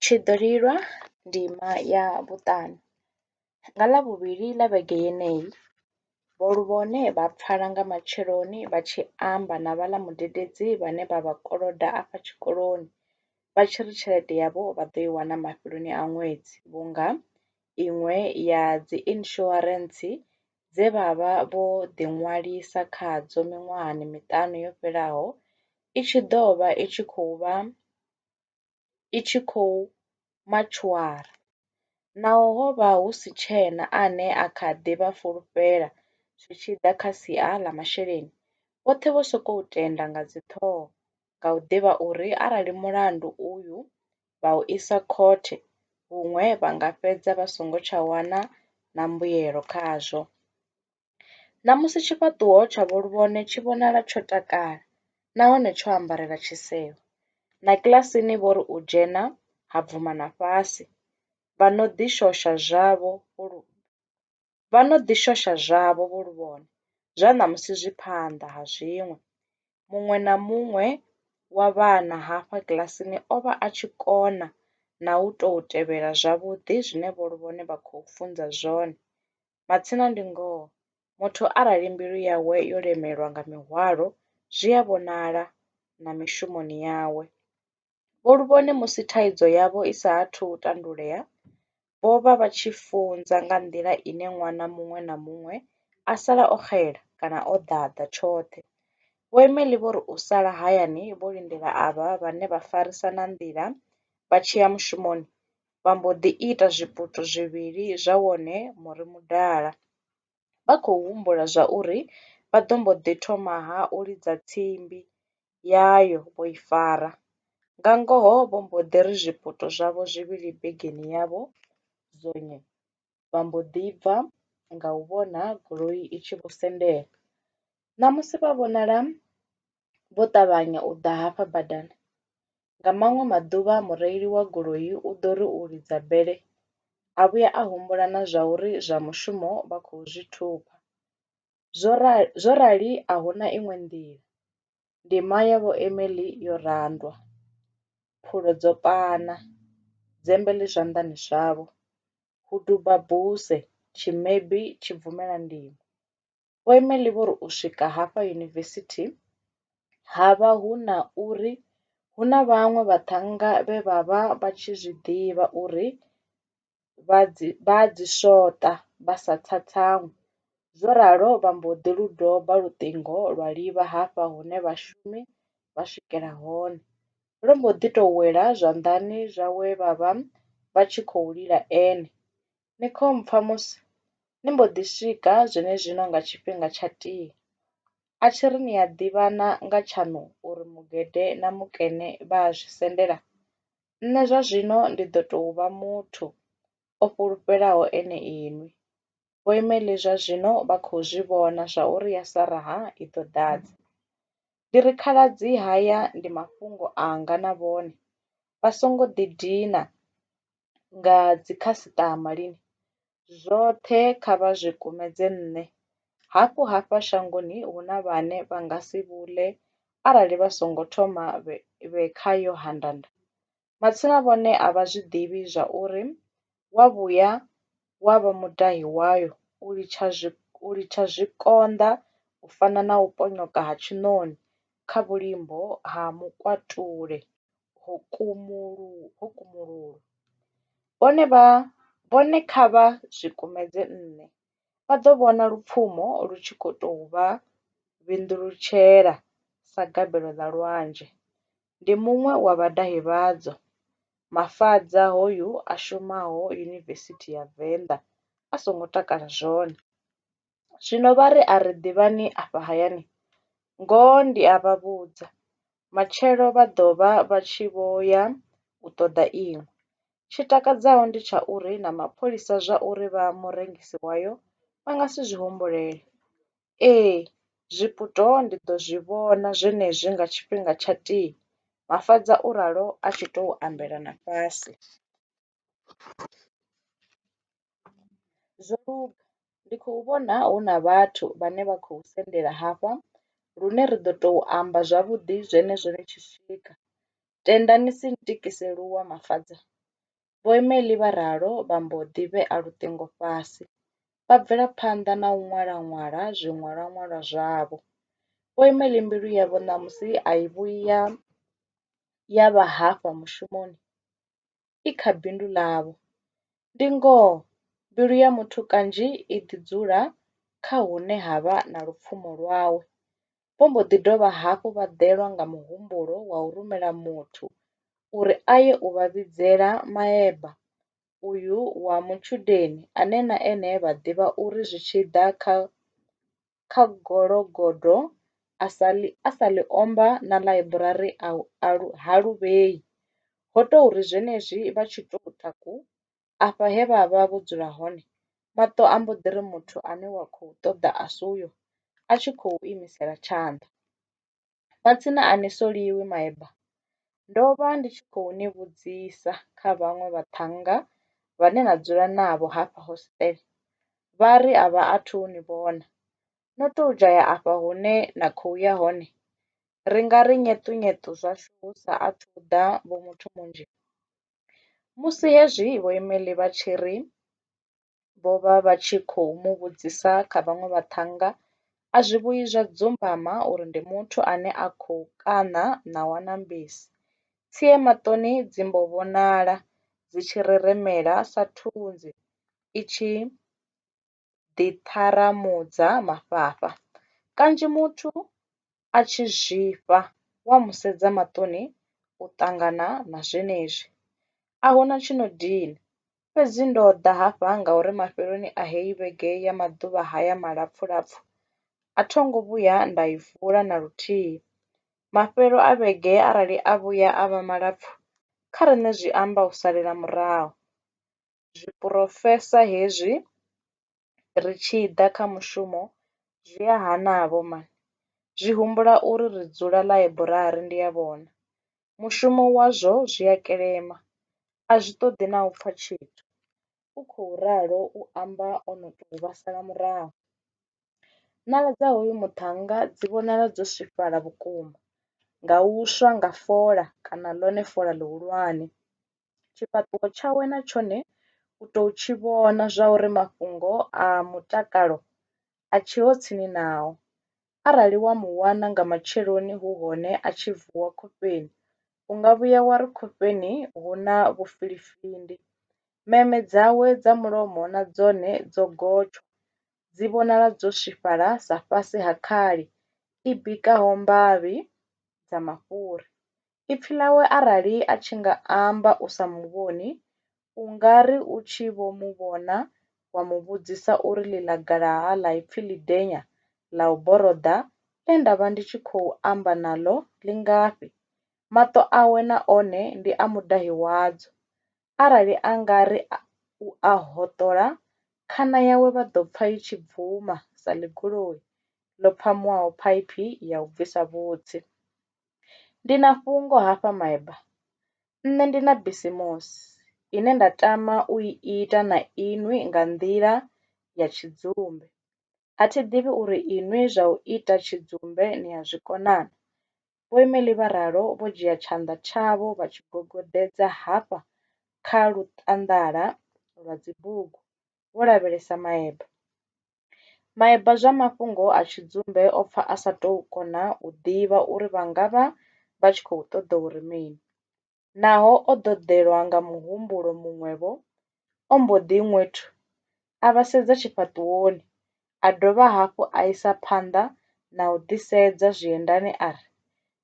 Tshi ḓo lilwa ndima ya vhuṱanu. Nga Ḽavhuvhili ḽa vhege yeneyi, vho Luvhone vha pfala nga matsheloni vha tshi amba na vhaḽa mudededzi vhane vha vha koloda afha tshikoloni vha tshi ri tshelede yavho vha ḓo i wana mafheloni a ṅwedzi vhunga iṅwe ya dzi insurance dze vha vha vho ḓiṅwalisa khadzo miṅwahani miṱanu yo fhelaho i tshi ḓo vha i tshi khou vha i tshi khou matshwara. Naho ho vha hu si tshena ane a kha ḓi vha fulufhela zwi tshi ḓa kha sia ḽa masheleni, vhoṱhe vho sokou tenda nga dziṱhoho nga u ḓivha uri arali mulandu uyu vha u isa khothe huṅwe vha nga fhedza vha songo tsha wana na mbuyelo khazwo. Ṋamusi tshifhaṱuwo tsha vho Luvhone tshi vhonala tsho takala nahone tsho ambarela tshisevho. Na kiḽasini vho ri u dzhena ha bvuma na fhasi vha no ḓi shosha zwavho. vha no ḓi shosha zwavho vho lu vhona zwa ṋamusi zwi phanḓa ha zwiṅwe. Muṅwe na muṅwe wa vhana hafha kiḽasini o vha a tshi kona na u tou tevhela zwavhuḓi zwine vho lu vhona vha khou funza zwone. Matsina ndi ngoho muthu arali mbilu yawe yo lemelwa nga mihwalo zwi a vhonala na mishumoni yawe. Vho Luvhone musi thaidzo yavho i sa athu u tandulea, vho vha vha tshi funza nga nḓila ine ṅwana muṅwe na muṅwe a sala o xela kana o ḓaḓa tshoṱhe. Vho Emely vho ri u sala hayani vho lindela avha vhane vha farisana nḓila vha tshi ya mushumoni, vha mbo ḓi ita zwiputo zwivhili zwa wone muri mudala. vha khou humbula zwauri vha ḓo mbo ḓi thoma-ha u lidza tsimbi yayo vho i fara. Nga ngoho vho mbo ḓi ri zwipoto zwavho zwivhili begeni yavho zwone vha mbo ḓi bva nga u vhona goloi i tshi vho sendela. Ṋamusi vha vhonala vho ṱavhanya u ḓa hafha badani. Nga maṅwe maḓuvha mureili wa goloi u ḓo ri u lidza bele a vhuya a humbula na zwa uri zwa mushumo vha khou zwi thupha. Zwo rali zwo rali a huna iṅwe nḓila, ndima ya vho Emily yo randwa, phulo dzo pana, dzembe ḽi zwanḓani zwavho, hu duba buse, tshimebi tshi bvumela ndimo. Vho Emelie vho ri u swika hafha yunivesithi, ha vha hu na uri hu na vhaṅwe vhaṱhannga vhe vha vha vha tshi zwi ḓivha uri vha dzi vha a dzi swoṱa vha sa tsatsamwi. Zwo ralo vha mbo ḓi lu doba luṱingo lwa livha hafha hune vhashumi vha swikela hone. Lwo mbo ḓi tou wela zwanḓani zwa we vha vha vha tshi khou lila ene. Ni kho mpfa musi ni mbo ḓi swika zwenezwino nga tshifhinga tsha tea. A tshi ri ni a ḓivhana nga tshaṋu uri mugede na mukene vha a zwi sendela? Nṋe zwa zwino ndi ḓo tou vha muthu o fhulufhelaho ene inwi. Vho Imeli zwa zwino vha khou zwi vhona zwa uri ya sa raha i ḓo ḓadza. Ndi ri, Khaladzi haya ndi mafhungo anga na vhone. Vha songo ḓidina. nga dzi khasiṱama lini zwoṱhe kha vha zwi kumedze nṋe. Hafhu hafha shangoni hu na vhane vha nga si vhule arali vha songo thoma vhe kha Yohananda. Matsina vhone a vha zwi ḓivhi zwa uri wa vhuya wa vha mudahi wayo u litsha zwi u litsha zwikonḓa u fana na u ponyoka ha tshiṋoni kha vhulimbo ha mukwatule ho kumululwa, vhone kha vha zwi kumedze nṋe, vha ḓo vhona lupfumo lu tshi khou tou vha vhinduletshela sa gabelo ḽa lwanzhe. Ndi muṅwe wa vhadahi vhadzo, Mafadza hoyu a shumaho Yunivesithi ya Venḓa a songo takala zwone. Zwino vha ri, A ri ḓivhani afha hayani. Ngoho ndi a vha vhudza, matshelo vha ḓo vha vha tshi vho ya u ṱoḓa iṅwe. Tshi takadzaho ndi tsha uri na mapholisa zwa uri vha murengisi wayo vha nga si zwi humbulele. Ee, zwiputo ndi ḓo zwi vhona zwenezwi nga tshifhinga tsha tii, Mafhaṱa u ralo a tshi tou ambela na fhasi. Zwo luga ndi khou vhona hu na vhathu vhane vha khou sendela hafha lune ri ḓo tou amba zwavhuḓi zwenezwo ni tshi swika. Tenda ni si ntikise luwa Mafadza. Vho Emily vha ralo vha mbo ḓi vhea luṱingo fhasi vha bvela phanḓa na u ṅwala ṅwala zwiṅwalwa ṅwalwa zwavho. Vho Emily mbilu yavho ṋamusi a i vhuyi ya ya vha hafha mushumoni. i kha bindu ḽavho. Ndi ngoho mbilu ya muthu kanzhi i ḓi dzula kha hune ha vha na lupfumo lwawe. Vho mbo ḓi dovha hafhu vha ḓelwa nga muhumbulo wa u rumela muthu uri a ye u vha vhidzela maeba uyu wa mutshudeni ane na ene vha ḓivha uri zwi tshi ḓa kha kha gologodo a sa ḽi a sa ḽi omba na ḽaiburari a u a lu ha lu vhei ho tou ri zwenezwi vha tshi tou taku afha he vha vha vho dzula hone maṱo a mbo ḓi ri muthu ane wa khou ṱoḓa a si uyo a tshi khou imisela tshanḓa. Matsina a ni soliwi maeba. Ndo vha ndi tshi khou ni vhudzisa kha vhaṅwe vhaṱhannga vhane na dzula navho hafha hostele, vha ri a vha athu u ni vhona. No tou dzhaya afha hune na khou ya hone? Ri nga ri nyeṱunyeṱu zwashu hu sa athu u ḓa Vho Muthumunzhi? Musi hezwi Vho Emily vha tshi ri vho vha vha tshi khou mu vhudzisa kha vhaṅwe vhaṱhannga, a zwi vhuyi zwa dzumbama uri ndi muthu ane a khou kaṋa ṋawa na mbisi. Tsie maṱoni dzi mbo vhonala dzi tshi reremela sa thunzi i tshi ḓiṱharamudza mafhafha. Kanzhi muthu a tshi zwifha wa mu sedza maṱoni u ṱangana na zwenezwi. A hu na tshi no dina, fhedzi ndo ḓa hafha ngauri mafheloni a heyi vhege ya maḓuvha haya malapfulapfu a tho ngo vhuya nda i vula na luthihi. Mafhelo a vhege arali a vhuya a vha malapfu kha riṋe zwi amba u salela murahu. Zwiporofesa hezwi ri tshi ḓa kha mushumo zwi a hana-vho man. Zwi humbula uri ri dzula ḽaiburari ndi a vhona. Mushumo wazwo zwi a kelema, a zwi ṱoḓi na u pfa tshithu, u khou ralo u amba o no tou vha sala murahu. Ṋala dza hoyu muṱhannga dzi vhonala dzo swifhala vhukuma nga u swa nga fola kana ḽone fola ḽihulwane. Tshifhaṱuwo tshawe na tshone u tou tshi vhona zwauri mafhungo a mutakalo a tsheho tsini nao. Arali wa mu wana nga matsheloni hu hone a tshi vuwa khofheni u nga vhuya wa ri khofheni hu na vhufilifindi. Meme dzawe dza mulomo na dzone dzo gotsha, dzi vhonala dzo swifhala sa fhasi ha khali i bikaho mbavhi dza mafhuri. Ipfi ḽawe arali a tshi nga amba u sa mu vhoni, u nga ri u tshi vho mu vhona wa mu vhudzisa uri ḽi ḽa galaha ḽa ipfi ḽidenya ḽa u boroḓa ḽe nda vha ndi tshi khou amba naḽo ḽi ngafhi? Maṱo awe na one ndi a mudahi wadzo. Arali a nga ri u a hoṱola, khana yawe vha ḓo pfa i tshi bvuma sa ḽigoloi ḽo phamuwaho phaiphi ya u bvisa vhutsi. Ndi na fhungo hafha myba nṋe ndi na bisimusi ine nda tama u i ita na inwi nga nḓila ya tshidzumbe a thi ḓivhi uri inwi zwa u ita tshidzumbe ni a zwikona na. Vho Emily vha ralo vho dzhia tshanḓa tshavho vha tshi gogoḓedza hafha kha luṱaḓala lwa dzibugu vho lavhelesa maeba. Maeba zwa mafhungo a tshidzumbe o pfa a sa tou kona u ḓivha uri vha nga vha vha tshi khou ṱoḓa uri mini. Naho o ḓoḓelwa nga muhumbulo muṅwe-vho, o mbo ḓi ṅwethu a vha sedza tshifhaṱuwoni A dovha hafhu a isa phanḓa na u ḓisedza zwiendani a ri,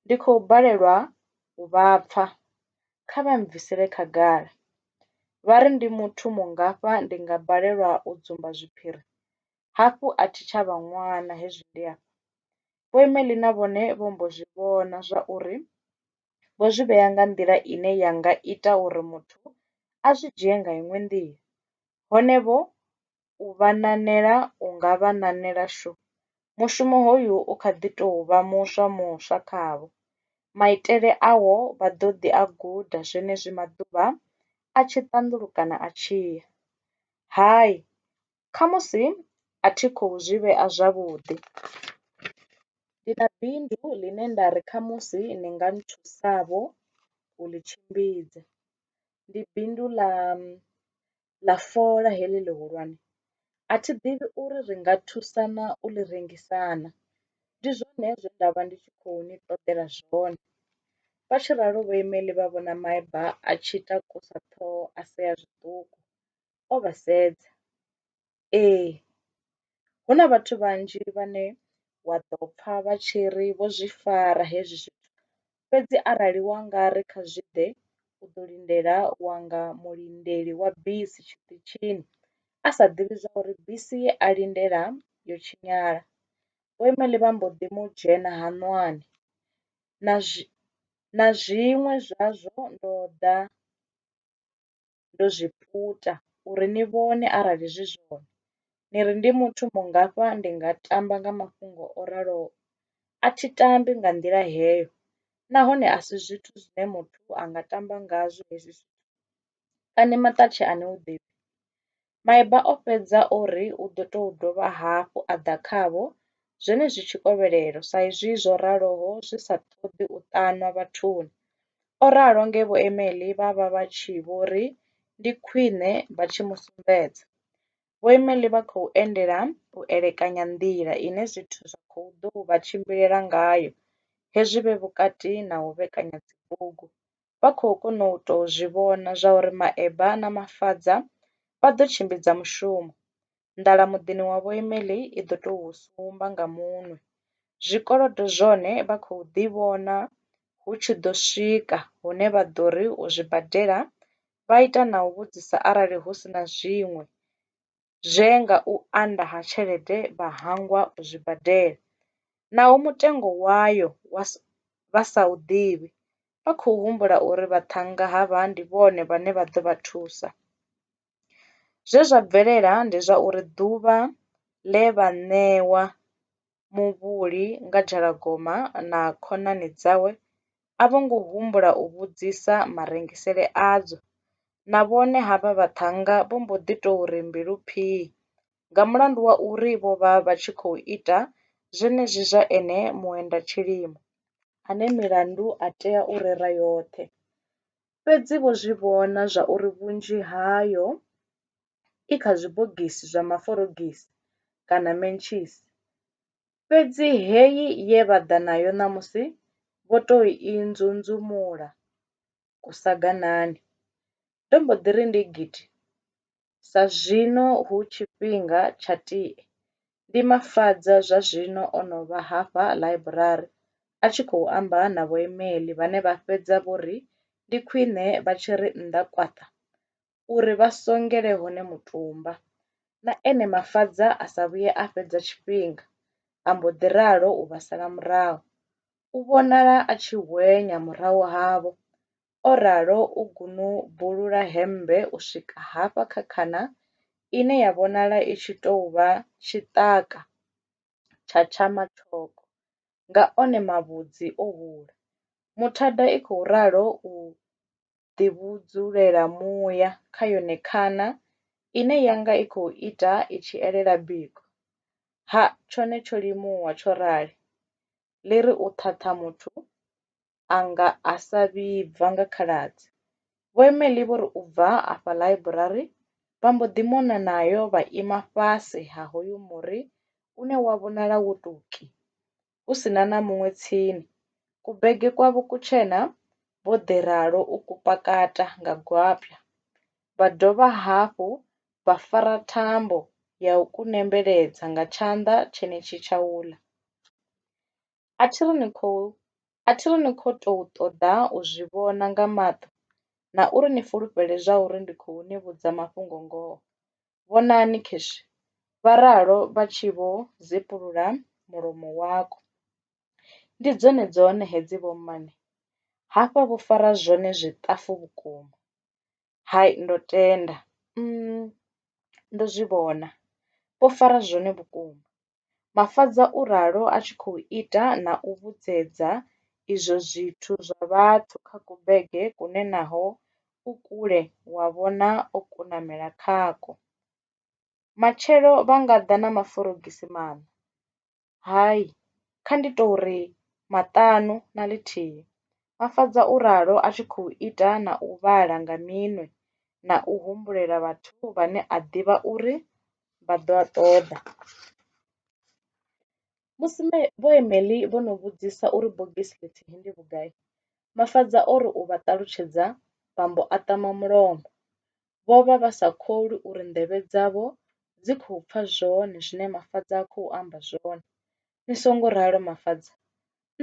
Ndi khou balelwa u vha pfa. Kha vha mbvisele khagala. Vha ri ndi muthu mungafha ndi nga balelwa u dzumba zwiphiri? Hafhu a thi tsha vha ṅwana hezwi ndi afha. Vho Emelina vhone vho mbo zwi vhona zwa uri vho zwi vhea nga nḓila ine ya nga ita uri muthu a zwi dzhie nga iṅwe nḓila. Hone vho u vha ṋaṋela u nga vha ṋaṋela shu. Mushumo hoyu u kha ḓi tou vha muswa muswa khavho. Maitele awo vha ḓo ḓi a guda zwenezwi maḓuvha a tshi ṱanḓulukana a tshi ya. Hai, khamusi a thi khou zwi vhea zwavhuḓi. Ndi na bindu ḽine nda ri khamusi ni nga nthusavho u ḽi tshimbidza. Ndi bindu ḽa ḽa fola heḽi ḽihulwane a thi ḓivhi uri ri nga thusana u ḽi rengisa na, ndi zwone zwe nda vha ndi tshi khou ni ṱoḓela zwone. Vha tshi ralo vho Email vha vhona maeba a tshi takusa ṱhoho a sea zwiṱuku o vha sedza. Ee hu na vhathu vhanzhi vhane wa ḓo pfha vha tshi ri vho zwi fara hezwi zwithu fhedzi arali wa nga ri kha zwi ḓe u ḓo lindela wa nga mulindeli wa bisi tshiṱitshini a sa ḓivhi zwa uri bisi ye a lindela yo tshinyala vheimelli vha mbo ḓi mu dzhena haṋwani na zwi na zwiṅwe zwazwo ndo ḓa. ndo zwi puta uri ni vhone arali zwi zwone. Ni ri ndi muthu mungafha ndi nga tamba nga mafhungo o raloho? A thi tambi nga nḓila heyo nahone a si zwithu zwine muthu a nga tamba ngazwo hezwi zwithu. Kani maṱatshe a ni u ḓivhi? Maeba o fhedza o ri u ḓo tou dovha hafhu a ḓa khavho, zwenezwi tshikovhelelo, sa izwi zwo raloho zwi sa ṱoḓi u ṱanwa vhathuni. O ralo nge Vho Emely vha vha vha tshi vho ri ndi khwine vha tshi mu sumbedza. Vho Emely vha khou endela u elekanya nḓila ine zwithu zwa khou ḓou vha tshimbilela ngayo hezwi vhe vhukati na u vhekanya dzibugu vha khou kona u tou zwi vhona zwauri maeba na mafadza vha ḓo tshimbidza mushumo. Nḓala muḓini wa Vho Emily i ḓo tou sumba nga munwe. Zwikolodo zwone vha khou ḓi vhona hu tshi ḓo swika hune vha ḓo ri u zwi badela vha ita na u vhudzisa arali hu si na zwiṅwe. zwe nga u anda ha tshelede vha hangwa u zwi badela, naho mutengo wayo vha sa u ḓivhi, vha khou humbula uri vhaṱhannga havha ndi vhone vhane vha ḓo vha thusa. Zwe zwa bvelela ndi zwa uri ḓuvha ḽe vha ṋewa muvhuli nga dzhalagoma na khonani dzawe a vho ngo humbula u vhudzisa marengisele adzo. Na vhone havha vhaṱhannga vho mbo ḓi tou ri mbilu phii nga mulandu wa uri vho vha vha tshi khou ita zwenezwi zwa ene muendatshilimo ane milandu a tea u rera yoṱhe. Fhedzi vho zwi vhona zwa uri vhunzhi hayo i kha zwibogisi zwa maforogisi kana mentshisi, fhedzi heyi ye vha ḓa nayo ṋamusi vho tou i nzunzumula kusaganani. Ndo mbo ḓi ri ndi gidi, sa zwino hu tshifhinga tsha tie, ndi Mafadza zwa zwino o no vha hafha ḽaiburari a tshi khou amba na vhoimeli vhane vha fhedza vho ri ndi khwine vha tshi ri nnḓa kwaṱa uri vha songele hone mutumba. Na ene Mafadza a sa vhuye a fhedza tshifhinga a mbo ḓi ralo u vha sala murahu. U vhonala a tshi hwenya murahu havho, o ralo u gunubulula hemmbe u swika hafha kha khana ine ya vhonala i tshi tou vha tshiṱaka tsha tsha mathoko nga one mavhudzi o hula. Muthada i khou ralo u ḓivhudzulela muya kha yone khana ine ya nga i khou ita i tshi elela biko. Ha, tshone tsho limuwa tsho rali, ḽi ri u ṱhaṱha muthu a nga a sa vhibva nga khaladzi. Vho Emely vho ri u bva afha ḽaiburari vha mbo ḓi mona nayo vha ima fhasi ha hoyu muri une wa vhonala wo tou ki. hu si na na muṅwe tsini. Kubege kwavho kutshena vho ḓi ralo u ku pakata nga gwapya, vha dovha hafhu vha fara thambo ya u ku nembeledza nga tshanḓa tshenetshi tshauḽa. A thi ri ni khou, a thi ri ni khou tou ṱoḓa u zwi vhona nga maṱo na uri ni fulufhele zwauri ndi khou ni vhudza mafhungo-ngoho. Vhonani Cash, vha ralo vha tshi vho zepulula mulomo wako. Ndi dzone dzone hedzi vho mmane, hafha vho fara zwone zwiṱafu vhukuma. Hai ndo tenda, umm ndo zwi vhona, vho fara zwone vhukuma. Mafhaza u ralo a tshi khou ita na u vhudzedza izwo zwithu zwa vhathu kha kubege kune naho u kule wa vhona o kunamela khakwo. Matshelo vha nga ḓa na maforogisi maṋa? Hai, kha ndi tou ri maṱanu na ḽithihi, Mafhaza u ralo a tshi khou ita na u vhala nga minwe na u humbulela vhathu vhane a ḓivha uri vha ḓo a ṱoḓa. Musi Vho Emely vho no vhudzisa uri bogisi ḽithihi ndi vhugai, Mafadza o ri u vha ṱalutshedza vha mbo a ṱama mulomo. Vho vha vha sa kholwi uri nḓevhe dzavho dzi khou pfa zwone zwine Mafadza a khou amba zwone. Ni songo ralo Mafadza,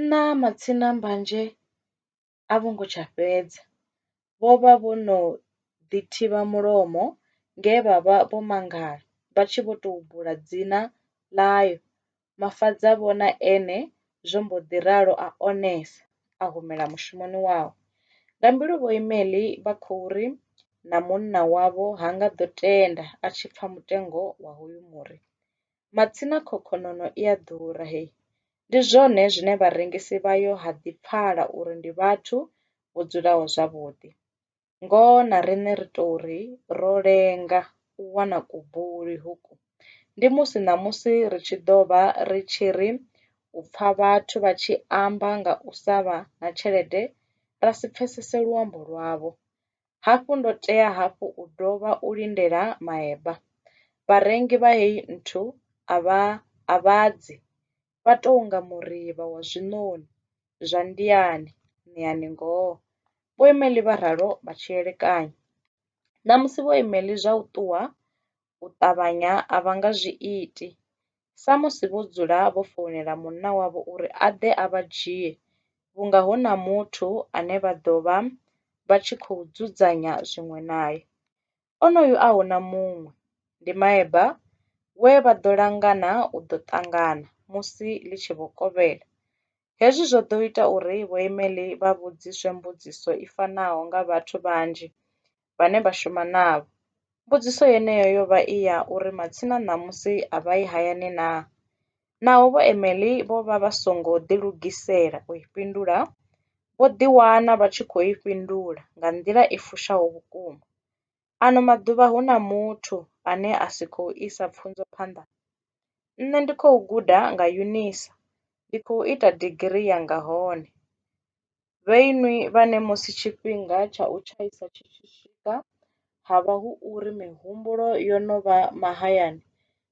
nṋa matsina mbanzhe. a vho ngo tsha fhedza. Vho vha vho no ḓi thivha mulomo nge vha vha vho mangala vha tshi vho tou bula dzina ḽayo. Mafadza a vhona ene zwo mbo ḓi ralo a onesa a humela mushumoni wawe. Nga mbilu vho Imeli vha khou ri na munna wavho ha nga ḓo tenda a tshi pfa mutengo wa hoyu muri. Matsina khokhonono i a ḓura hee! Ndi zwone zwine vharengisi vhayo ha ḓi pfala uri ndi vhathu vho dzulaho zwavhuḓi. Ngoho na riṋe ri tou ri ro lenga u wana kubuli hoku, ndi musi ṋamusi ri tshi ḓo vha ri tshi ri u pfa vhathu vha tshi amba nga u sa vha na tshelede ra si pfesese luambo lwavho. Hafhu ndo tea hafhu u dovha u lindela maeba. Vharengi vha heyi nthu a vha a vha dzi, vha tou nga murivha wa zwiṋoni zwa ndiani, ṋeani ngoho. Vhoimeli vha ralo vha tshi elekanya. Ṋamusi vhoimeli zwa u ṱuwa u ṱavhanya a vha nga zwi iti, samusi vho dzula vho founela munna wavho uri a ḓe a vha dzhie vhunga hu na muthu ane vha ḓo vha vha tshi khou dzudzanya zwiṅwe nae. Onoyu a hu na muṅwe, ndi maeba we vha ḓo langana u ḓo ṱangana musi ḽi tshi vho kovhela. Hezwi zwo ḓo ita uri vhoimeli vha vhudziswe mbudziso i fanaho nga vhathu vhanzhi vhane vha shuma navho. Mbudziso yeneyo yo vha i ya uri matsina ṋamusi a vha yi hayani naa? Naho vhoimeli vho vha vha songo ḓilugisela u i fhindula, vho ḓiwana vha tshi khou i fhindula nga nḓila i fushaho vhukuma. Ano maḓuvha hu na muthu ane a si khou isa pfunzo phanḓa? Nṋe ndi khou guda nga Unisa, ndi khou ita digirii yanga hone. Vhe inwi vhane musi tshifhinga tsha u tshaisa tshi tshi swika ha vha hu uri mihumbulo yo no vha mahayani,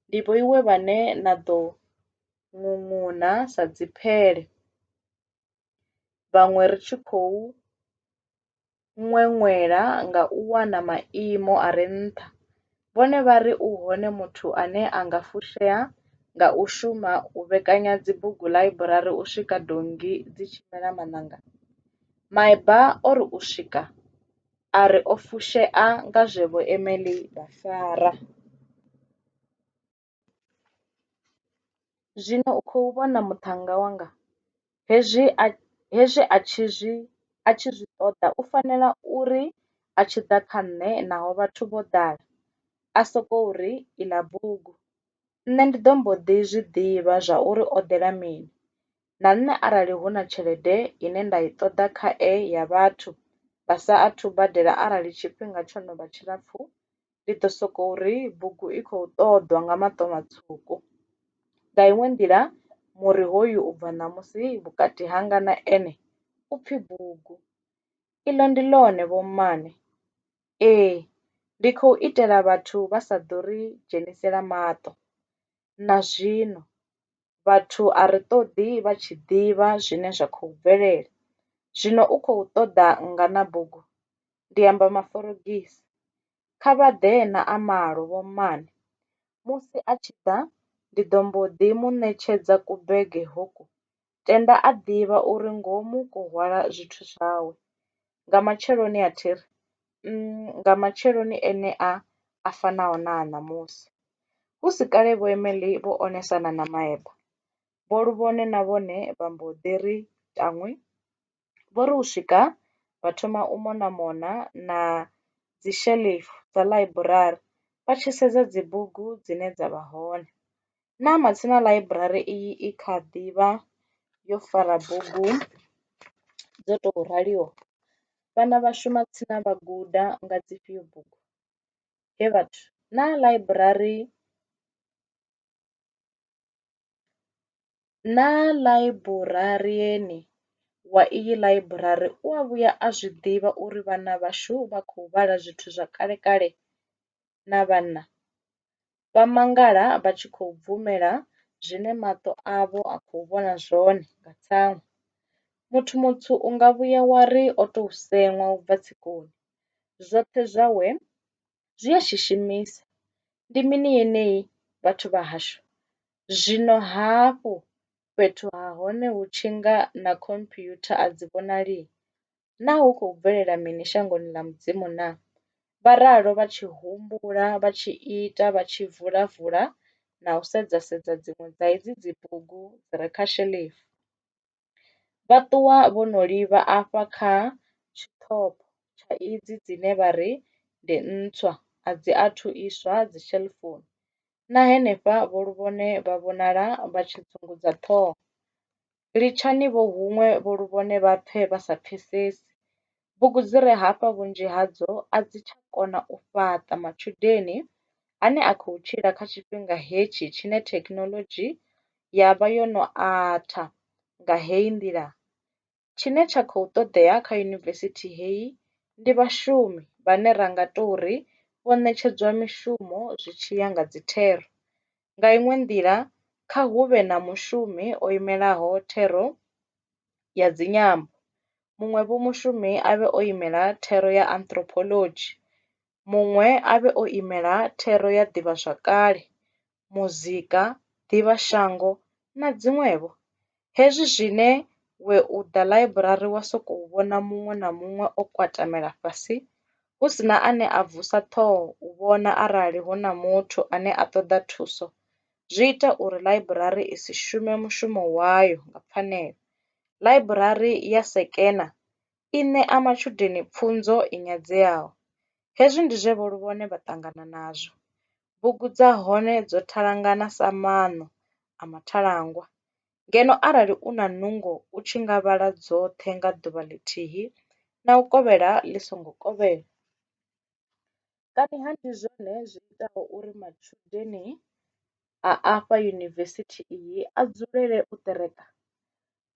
ndi vhoiwe vhane na ḓo ṅuṅuna sa dziphele, vhaṅwe ri tshi khou ṅweṅwela nga u wana maimo a re nṱha, vhone vha ri u hone muthu ane a nga fushea nga u shuma u vhekanya dzibugu ḽaiburari u swika donngi dzi tshi mela maṋanga? Myburgh o ri u swika a ri o fushea nga zwe Vho Emily vha fara. Zwino u khou vhona muṱhannga wanga? Hezwi a, hezwi a tshi zwi, a tshi zwi ṱoḓa u fanela uri a tshi ḓa kha nṋe naho vhathu vho ḓala, a sokou ri, Iḽa bugu. Nṋe ndi ḓo mbo ḓi zwi ḓivha zwa uri o ḓela mini. Na nṋe arali hu na tshelede ine nda i ṱoḓa kha e ya vhathu vha sa athu badela arali tshifhinga tsho no vha tshilapfu, ndi ḓo sokou ri bugu i khou ṱoḓwa nga maṱo matswuku. Nga iṅwe nḓila, muri hoyu u bva ṋamusi vhukati hanga na ene u pfi bugu. Iḽo ndi ḽone, vhommane. Ee, ndi khou itela vhathu vha sa ḓo ri dzhenisela maṱo. na zwino vhathu a ri ṱoḓi vha tshi ḓivha zwine zwa khou bvelela. Zwino u khou ṱoḓa nngana bugu? Ndi amba Maforogisi. Kha vha ḓe na a malo, vhommane. Musi a tshi ḓa, ndi ḓo mbo ḓi mu ṋetshedza kubege hoku tenda a ḓivha uri ngomu ko hwala zwithu zwawe. Nga matsheloni a thi ri, Umm, nga matsheloni enea a fanaho na a ṋamusi. Hu si kale Vho Emily vho onesana na maeba. Vho Luvhone na vhone vha mbo ḓi ri tanwi! Vho ri u swika vha thoma u mona mona na dzi shelefu dza ḽaiburari vha tshi sedza dzi bugu dzine dza vha hone. Na matsina ḽaiburari iyi i kha ḓi vha yo fara bugu dzo tou raliho, vhana vha shuma tsini vha guda nga dzifhio bugu. Hee vhathu naa ḽaiburari Naa ḽaiburarieni wa iyi ḽaiburari u a vhuya a zwi ḓivha uri vhana vhashu vha khou vhala zwithu zwa kalekale na vhanna? Vha mangala vha tshi khou bvumela zwine maṱo avho a khou vhona zwone nga tsaṅwa. Muthu mutswu u nga vhuya wa ri o tou seṅwa u bva tsikoni, zwoṱhe zwawe zwi a shishimisa. Ndi mini yeneyi vhathu vha hashu? Zwino hafhu fhethu ha hone hu tshi nga na khomphyutha a dzi vhonali? Naa hu khou bvelela mini shangoni ḽa Mudzimu naa? Vha ralo vha tshi humbula, vha tshi ita, vha tshi vula-vula na u sedza-sedza dziṅwe dza hedzi dzibugu dzi re kha sheḽifu. Vha ṱuwa vho no livha afha kha tshiṱoko tsha idzi dzine vha ri ndi ntswa, a dzi athu iswa dzishelufoni. Na henefha vho Luvhone vha vhonala vha tshi dzungudza ṱhoho. Litshani vho huṅwe vho Luvhone vha pfe vha sa pfesesi, Bugu dzi re hafha vhunzhi hadzo a dzi tsha kona u fhaṱa matshudeni ane a khou tshila kha tshifhinga hetshi tshine thekhinoḽodzhi ya vha yo no atha nga heyi nḓila. Tshine tsha khou ṱoḓea kha yunivesithi heyi ndi vhashumi vhane ra nga tou ri vho ṋetshedzwa mishumo zwi tshi ya nga dzithero. Nga iṅwe nḓila, kha hu vhe na mushumi o imelaho thero ya dzinyambo, muṅwe vho mushumi a vhe o imela thero ya anthropology, muṅwe a vhe o imela thero ya ḓivhazwakale, muzika, ḓivhashango na dziṅwe-vho. Hezwi zwine we u ḓa ḽaiburari wa sokou vhona muṅwe na muṅwe o kwatamela fhasi hu si na ane a vusa ṱhoho u vhona arali hu na muthu ane a ṱoḓa thuso, zwi ita uri ḽaiburari i si shume mushumo wayo nga pfanelo. Ḽaiburari ya sekena i ṋea matshudeni pfunzo i nyadzeaho. Hezwi ndi zwe Vho Luvhone vha ṱangana nazwo. Bugu dza hone dzo thalangana sa maṋo a mathalangwa, ngeno arali u na nungo u tshi nga vhala dzoṱhe nga ḓuvha ḽithihi na u kovhela ḽi songo kovhela. Kaniha ndi zwone zwi itaho uri matshudeni a afha yunivesithi iyi a dzulele u ṱereka?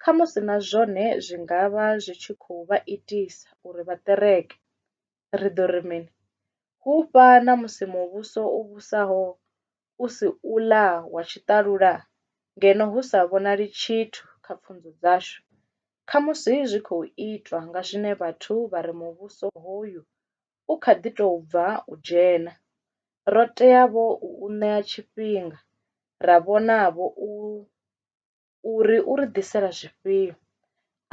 Khamusi na zwone zwi nga vha zwi tshi khou vha itisa uri vha ṱereke. Ri ḓo ri mini? Hu vha na musi muvhuso u vhusaho u si uḽa wa tshiṱalula ngeno hu sa vhonali tshithu kha pfunzo dzashu. Khamusi zwi khou itwa nga zwine vhathu vha ri muvhuso hoyu u kha ḓi tou bva u dzhena, ro tea-vho u u ṋea tshifhinga ra vhona-vho uri u ri ḓisela zwifhio.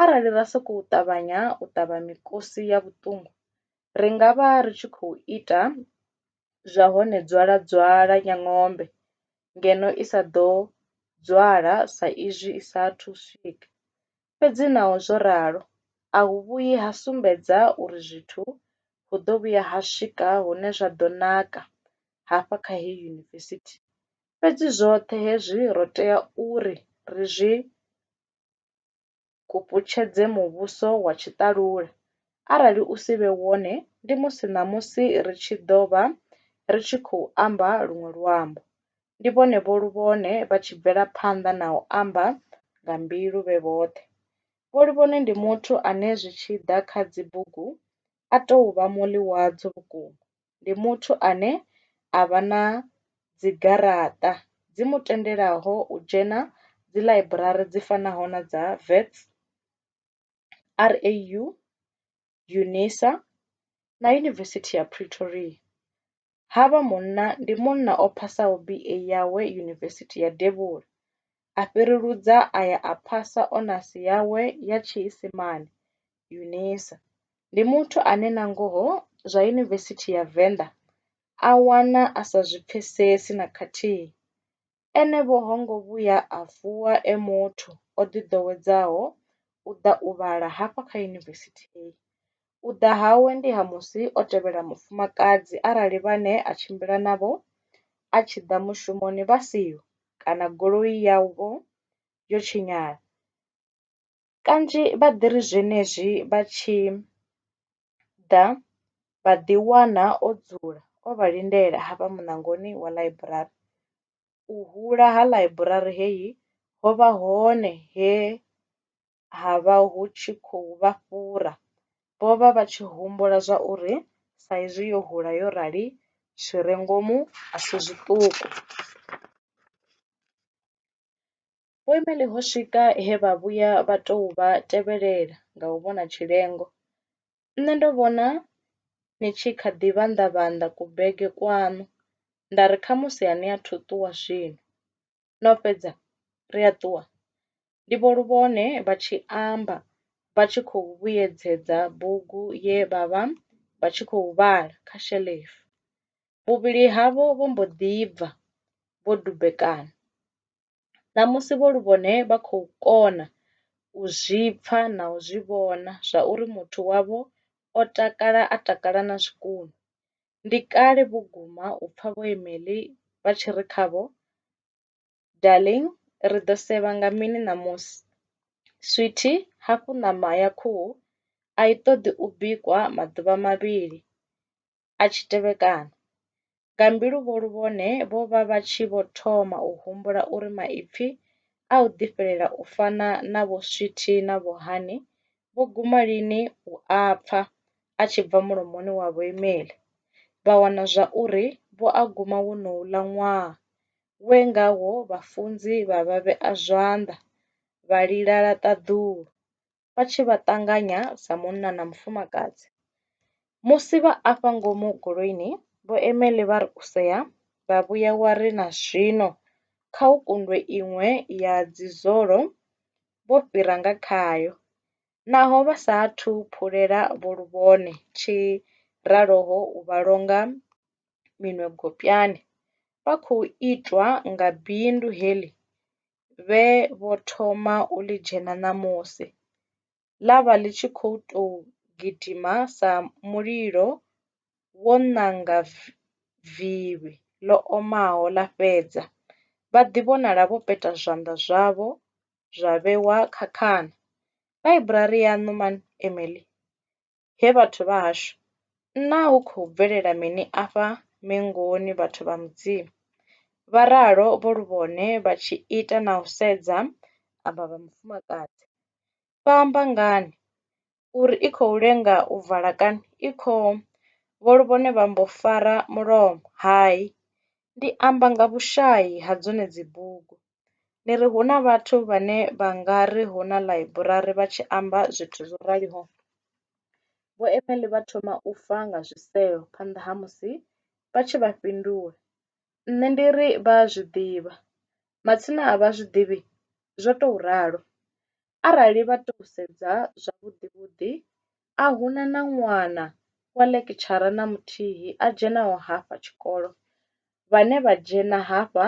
Arali ra sokou ṱavhanya u ṱavha mikosi ya vhuṱungu, ri nga vha ri tshi khou ita zwa hone dzwala-dzwala nyangombe ngeno i sa ḓo dzwala sa izwi i sa athu u swika. Fhedzi naho zwo ralo, a hu vhuyi ha sumbedza uri zwithu hu ḓo vhuya ha swika hune zwa ḓo naka hafha kha heyi yunivesithi. Fhedzi zwoṱhe hezwi ro tea uri ri zwi kuputshedze muvhuso wa tshiṱalula, arali u si vhe wone ndi musi ṋamusi ri tshi ḓo vha ri tshi khou amba luṅwe luambo. ndi vhone vho Luvhone vha tshi bvela phanḓa na u amba nga mbilu vhe vhoṱhe. Vho Luvhone ndi muthu ane zwi tshi ḓa kha dzi bugu a tou vha muḽi wadzo vhukuma. Ndi muthu ane a vha na dzi garaṱa dzi mu tendelaho u dzhena dzi ḽaiburari dzi fanaho na dza Wits, RAU, UNISA, na Yunivesithi ya Pretoria. Havha munna ndi munna o phasaho BA yawe Yunivesithi ya Devhula, a fhireludza a ya a phasa onasi yawe ya Tshiisimane, UNISA. Ndi muthu ane nangoho zwa Yunivesithi ya Venḓa a wana a sa zwi pfesesi na khathihi. Ene vho ho ngo vhuya a vuwa e muthu o ḓiḓowedzaho u ḓa u vhala hafha kha Yunivesithi hei. U ḓa hawe ndi ha musi o tevhela mufumakadzi arali vhane a tshimbila navho a tshi ḓa mushumoni vha siho kana goloi yavho yo tshinyala. kanzhi vha ḓi ri zwenezwi vha tshi ḓa vha ḓi wana o dzula o vha lindela hafha muṋangoni wa ḽaiburari. U hula ha ḽaiburari heyi ho vha hone he ha vha hu tshi khou vha fhura, vho vha vha tshi humbula zwa uri sa izwi yo hula yo rali zwi re ngomu a si zwiṱuku. Vhuimeli ho swika he vha vhuya vha tou vha tevhelela nga u vhona tshilengo. Nṋe ndo vhona ni tshi kha ḓi vhanḓa vhanḓa ku bege kwaṋu nda ri khamusi a ni athu ṱuwa zwino, no fhedza ri a ṱuwa? ndi Vho Luvhone vha tshi amba vha tshi khou vhuyedzedza bugu ye vha vha vha tshi khou vhala kha shelefu. Vhuvhili havho vho mbo ḓi bva vho dumbekana. Ṋamusi vho Luvhone vha khou kona u zwi pfa na u zwi vhona zwauri muthu wavho o takala a takala na zwikunwe. Ndi kale vhukuma u pfa Vho Emily vha tshi ri khavho, Darling, ri ḓo sevha nga mini ṋamusi? Sweetie, hafhu ṋama ya khuhu a i ṱoḓi u bikwa maḓuvha mavhili. a tshi tevhekana. Nga mbiluvholu vhone vho vha vha tshi vho thoma u humbula uri maipfi a u ḓifhelela u fana na Vho Swithi na Vho Hani vho guma lini u a pfa a tshi bva mulomoni wa vhoimeli, vha wana zwa uri vho a guma wonouḽa ṅwaha we ngawo vhafunzi vha vha vhea zwanḓa vha lila ṱaḓulu vha tshi vha ṱanganya sa munna na mufumakadzi. Musi vha afha ngomu goloini vho Emeḽi vha ri u sea vha vhuya wa ri na zwino kha hu kundwe iṅwe ya dzi zolo vho fhira nga khayo. Naho vha sa athu phulela vho luvhone tshi raloho u vha longa minwe gopyani vha khou itwa nga bindu heḽi vhe vho thoma u ḽi dzhena ṋamusi, ḽa vha ḽi tshi khou tou gidima sa mulilo wo nanga vivhi ḽo omaho ḽa fhedza, vha ḓivhonala vho peta zwanḓa zwavho zwa vhewa kha khana. Ḽaiburari yaṋu Man Emily Hee vhathu vha hashu, naa hu khou bvelela mini afha Mengoni vhathu vha Mudzimu? Vha ralo vho lu vhone vha tshi ita na u sedza avha vha mufumakadzi. Vha amba ngani? Uri i khou lenga u vala kani? I khou. Vho lu vhone vha mbo fara mulomo. Hai, ndi amba nga vhushayi ha dzone dzibugu. Ni ri hu na vhathu vhane vha nga ri hu na ḽaiburari vha tshi amba zwithu zwo raliho? Vho Emily vha thoma u fa nga zwisevho phanḓa ha musi vha tshi vha fhindula. Nṋe ndi ri, Vha a zwi ḓivha. Matsina a vha zwi ḓivhi? Zwo tou ralo. Arali vha tou sedza zwavhuḓi-vhuḓi, a hu na na ṅwana wa ḽekitshara na muthihi a dzhenaho hafha tshikolo. Vhane vha dzhena hafha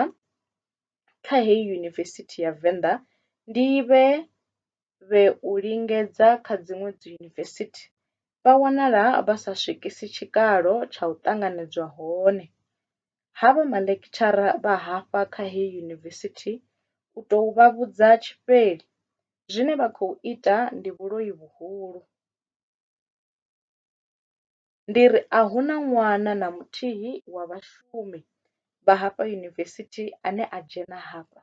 kha heyi Yunivesithi ya Venḓa ndi vhe vhe u lingedza kha dziṅwe dziyunivesithi, vha wanala vha sa swikisi tshikalo tsha u ṱanganedzwa hone. Havha maḽekitshara vha hafha kha heyi Yunivesithi u tou vha vhudza tshifheli, zwine vha khou ita ndi vhuloi vhuhulu. ndi ri a hu na ṅwana na muthihi wa vhashumi vha hafha yunivesithi ane a dzhena hafha.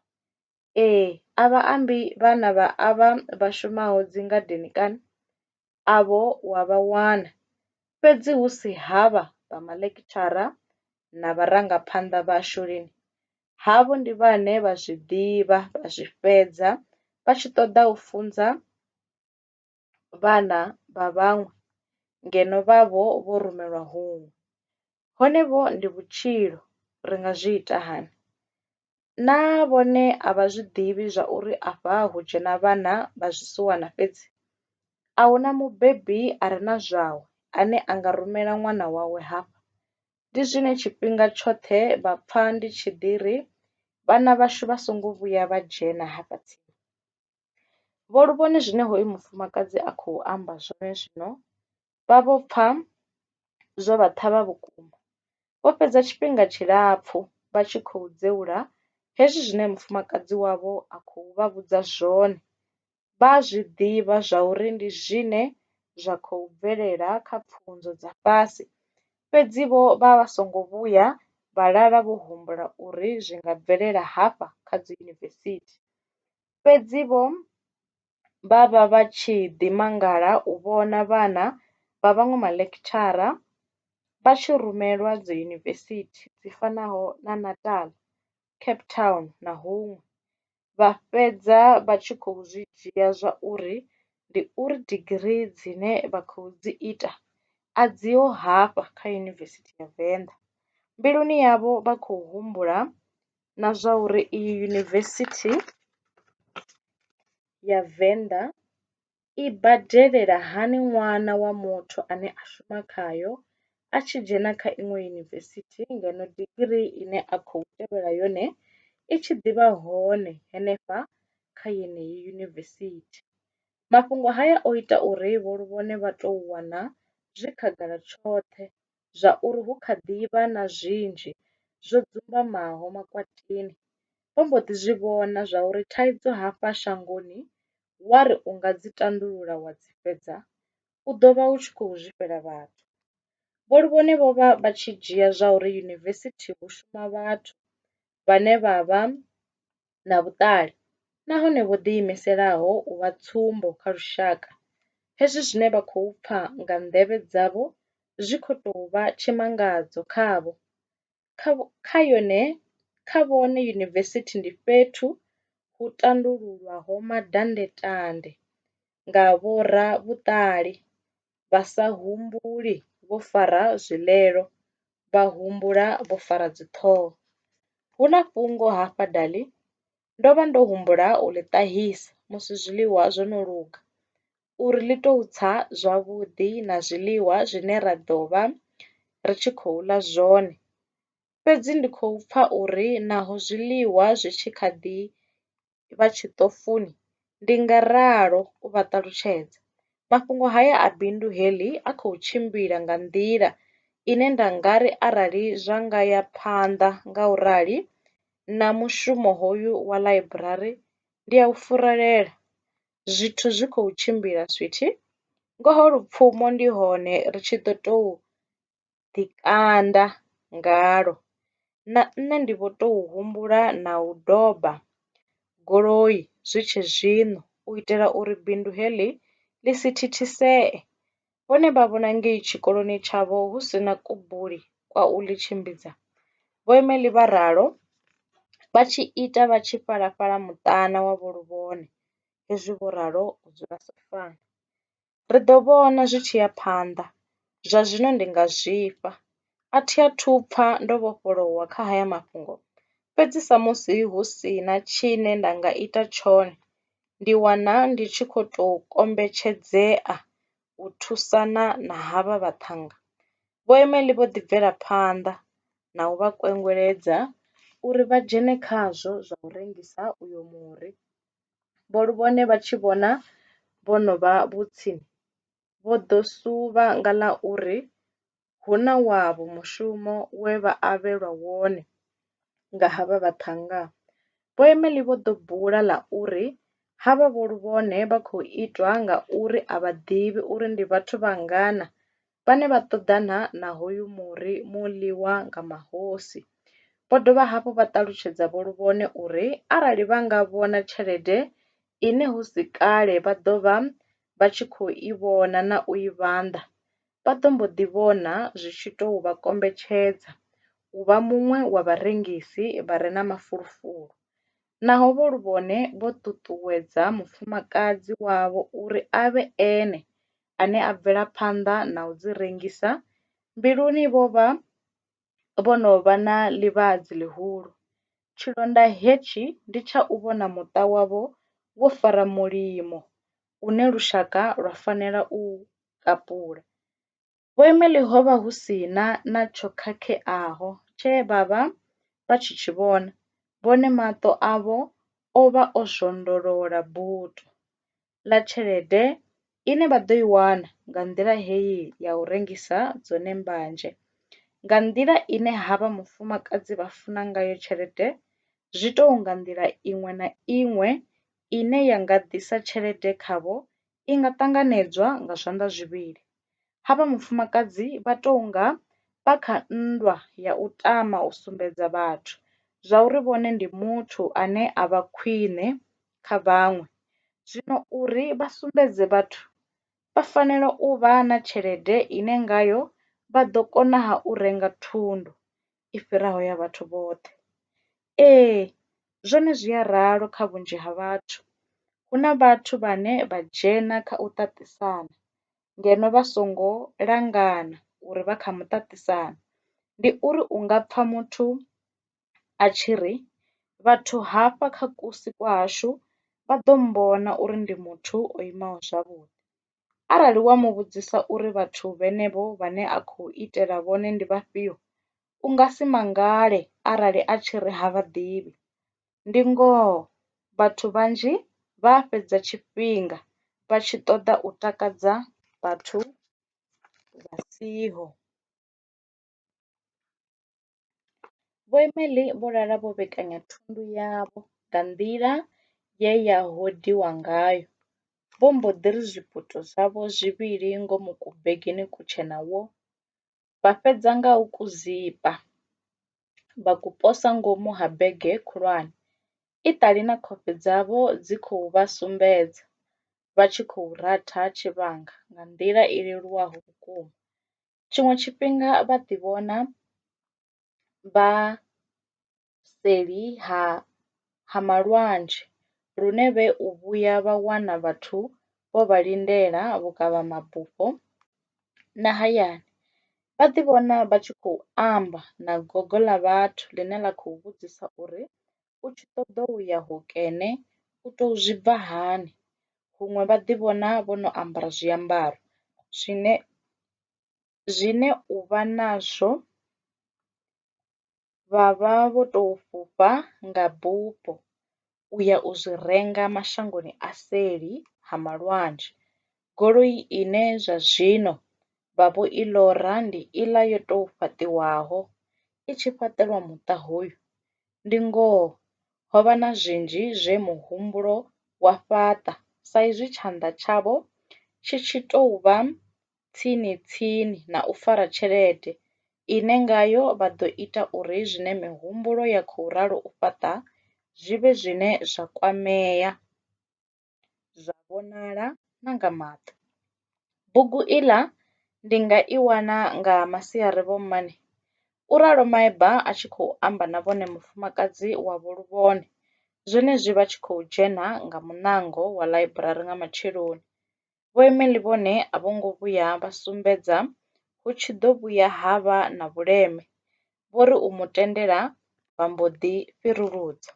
Ee, a vha ambi vhana vha avha vha shumaho dzingadeni kana? Avho u a vha wana, fhedzi hu si havha vha maḽekitshara na vharangaphanḓa vhashu lini, havho ndi vhane vha zwi ḓivha, vha zwi fhedza vha tshi ṱoḓa u funza vhana vha vhaṅwe ngeno vhavho vho rumelwa huṅwe. Hone vho ndi vhutshilo, ri nga zwi ita hani? Naa vhone a vha zwi ḓivhi zwauri afha hu dzhena vhana vha zwisiwana fhedzi? A hu na mubebi a re na zwawe ane a nga rumela ṅwana wawe hafha. Ndi zwine tshifhinga tshoṱhe vha pfa ndi tshi ḓi ri, Vhana vhashu vha songo vhuya vha dzhena hafha tsini. Vho lu vhone zwine hoyu mufumakadzi a khou amba zwone zwino vha vho pfa zwo vha ṱhavha vhukuma. Vho fhedza tshifhinga tshilapfu vha tshi khou dzeula hezwi zwine mufumakadzi wavho a khou vha vhudza zwone. Vha a zwi ḓivha zwa uri ndi zwine zwa khou bvelela kha pfunzo dza fhasi fhedzi vho vha vha songo vhuya vha lala vho humbula uri zwi nga bvelela hafha kha dzi yunivesithi. Fhedzi-vho, vha vha vha tshi ḓi mangala u vhona vhana vha vhaṅwe maḽekitshara vha tshi rumelwa dziyunivesithi dzi fanaho na Natal, Cape Town na huṅwe, vha fhedza vha tshi khou zwi dzhia zwa uri ndi uri digirii dzine vha khou dzi ita a dziho hafha kha Yunivesithi ya Venḓa. Mbiluni yavho vha khou humbula na zwa uri iyi yunivesithi ya Venḓa i badelela hani ṅwana wa muthu ane a shuma khayo a tshi dzhena kha iṅwe yunivesithi ngeno digirii ine a khou tevhela yone i tshi ḓi vha hone henefha kha yeneyi yunivesithi. Mafhungo haya o ita uri Vho Luvhone vha tou wana zwi khagala tshoṱhe zwa uri hu kha ḓi vha na zwinzhi zwo dzumbamaho makwatini, vho mbo ḓi zwi vhona zwa uri thaidzo hafha shangoni wa ri u nga dzi tandulula wa dzi fhedza u ḓo vha u tshi khou zwifhela vhathu. Vho Luvhone vho vha vha tshi dzhia zwa uri yunivesithi hu shuma vhathu vhane vha vha na vhuṱali nahone vho ḓiimiselaho u vha tsumbo kha lushaka. Hezwi zwine vha khou pfa nga nḓevhe dzavho zwi khou tou vha tshimangadzo khavho. Kha yone kha vhone yunivesithi ndi fhethu hu tandululwaho madandetande nga vhoravhuṱali vha sa humbuli vho fara zwilelo, vha humbula vho fara dziṱhoho. Hu na fhungo hafha dali, ndo vha ndo humbula u ḽi ṱahisa musi zwiḽiwa zwo no luga uri ḽi tou tsa zwavhuḓi na zwiḽiwa zwine ra ḓo vha ri tshi khou ḽa zwone. Fhedzi ndi khou pfa uri naho zwiḽiwa zwi tshi kha ḓi. vha tshiṱofuni, ndi nga ralo u vha ṱalutshedza. Mafhungo haya a bindu heḽi a khou tshimbila nga nḓila ine nda nga ri arali zwa nga ya phanḓa nga u rali na mushumo hoyu wa ḽaiburari ndi a u furelela. Zwithu zwi khou tshimbila sweetie, ngoho lupfumo ndi hone ri tshi ḓo tou ḓi kanda ngalwo na nṋe ndi vho tou humbula na u doba goloi zwi tshe zwino u itela uri bindu heḽi ḽi si thithisee. Vhone vha vhona ngei tshikoloni tshavho hu si na kubuli kwa u ḽi tshimbidza. Vho Emily vha ralo vha tshi ita vha tshi fhalafhala muṱana wa Vho Luvhone hezwi vho ralo u dzula Soswana. Ri ḓo vhona zwi tshi ya phanḓa, zwa zwino ndi nga zwifha. A thi athu u pfa ndo vhofholowa kha haya mafhungo, fhedzi samusi hu si na tshine nda nga ita tshone, ndi wana ndi tshi khou tou kombetshedzea u thusana na havha vhaṱhannga. Vho Emily vho ḓi bvela phanḓa na u vha kwengweledza uri vha dzhene khazwo zwa u rengisa uyo muri. vho lu vhone vha tshi vhona vho no vha vhutsi, vho ḓo suvha nga ḽa uri hu na wavho mushumo we vha avhelwa wone nga havha vhaṱhannga. Vho Emily vho ḓo bula ḽa uri, Havha vho lu vhone vha khou itwa ngauri a vha ḓivhi uri ndi vhathu vhangana vhane vha ṱoḓana na hoyu muri mu ḽiwa nga mahosi. Vho dovha hafhu vha ṱalutshedza Vho Luvhone uri arali vha nga vhona tshelede ine hu si kale vha ḓo vha vha tshi khou i vhona na u i vhanḓa, vha ḓo mbo ḓi vhona zwi tshi tou vha kombetshedza u vha muṅwe wa vharengisi vha re na mafulufulu. Naho Vho Luvhone vho ṱuṱuwedza mufumakadzi wavho uri a vhe ene ane a bvela phanḓa na u dzi rengisa, mbiluni vho vha vho no vha na ḽivhadzi ḽihulu. Tshilonda hetshi ndi tsha u vhona muṱa wavho wo fara mulimo une lushaka lwa fanela u u kapula. Vho Emily ho vha hu si na na tsho khakheaho tshe vha vha vha tshi tshi vhona, vhone maṱo avho o vha o zwondolola buḓo. ḽa tshelede ine vha ḓo i wana nga nḓila heyi ya u rengisa dzone mbanzhe. Nga nḓila ine havha mufumakadzi vha funa ngayo tshelede zwi tou nga nḓila iṅwe na iṅwe ine ya nga ḓisa tshelede khavho i nga ṱanganedzwa nga zwanḓa zwivhili. ha vha mufumakadzi vha tou nga vha kha nndwa ya u tama u sumbedza vhathu zwauri vhone ndi muthu ane a vha khwine kha vhaṅwe. Zwino uri vha sumbedze vhathu, vha fanela u vha na tshelede ine ngayo vha ḓo konaha u renga thundu. i fhiraho ya vhathu vhoṱhe. Ee, zwone zwi a ralo kha vhunzhi ha vhathu. Hu na vhathu vhane vha dzhena kha u ṱaṱisana ngeno vha songo langana uri vha kha muṱaṱisano. Ndi uri u nga pfha muthu a tshi ri, Vhathu hafha kha kusi kwa hashu vha ḓo mmbona uri ndi muthu o imaho zwavhuḓi. Arali wa mu vhudzisa uri vhathu vhenevho vhane a khou itela vhone ndi vhafhio, u nga si mangale arali a tshi ri ha vha ḓivhi. Ndi ngoho, vhathu vhanzhi vha a fhedza tshifhinga vha tshi ṱoḓa u takadza vhathu vha siho. Vho Emely vho lala vho vhekanya thundu yavho nga nḓila ye ya hodiwa ngayo, vho mbo ḓi ri zwiputo zwavho zwivhili ngomu kubegeni kutshena wo, vha fhedza nga u ku zipa, vha ku posa ngomu ha bege khulwane, i ṱali na khofhe dzavho dzi khou vha sumbedza, vha tshi khou ratha tshivhanga nga nḓila i leluwaho vhukuma. Tshiṅwe tshifhinga vha ḓi vhona vha seli ha ha malwadze lune vhe u vhuya vha wana vhathu vho vha lindela vhukavha mabufho na hayani. Vha ḓi vhona vha tshi khou amba na gogo ḽa vhathu ḽine ḽa khou vhudzisa uri u tshi ṱoḓa u ya hokene u to zwi bva hani huṅwe vha ḓi vhona vho no ambara zwiambaro zwine zwine u vha nazwo vha vha vho to fhufha nga bufho u ya u zwi renga mashangoni a seli ha malwadzhe. Goloi ine zwa zwino vha vho i ḽora ndi iḽa yo tou fhaṱiwaho i tshi fhaṱelwa muṱa hoyu Ndi ngoho, ho vha na zwinzhi zwe muhumbulo wa fhaṱa saizwi tshanḓa tshavho tshi tshi tou vha tsini-tsini na u fara tshelede ine ngayo vha ḓo ita uri zwine mihumbulo ya khou ralo u fhaṱa zwi vhe zwine zwa kwamea. zwa vhonala na nga maṱo. Bugu iḽa ndi nga i wana nga masiari vho mmane? u ralo maeba a tshi khou amba na vhone mufumakadzi wavho luvhone zwenezwi vha tshi khou dzhena nga muṋango wa ḽaiburari nga matsheloni. Vho Emily vhone a vho ngo vhuya vha sumbedza hu tshi ḓo vhuya ha vha na vhuleme, vho ri u mu tendela vha mbo ḓi fhiruludzwa.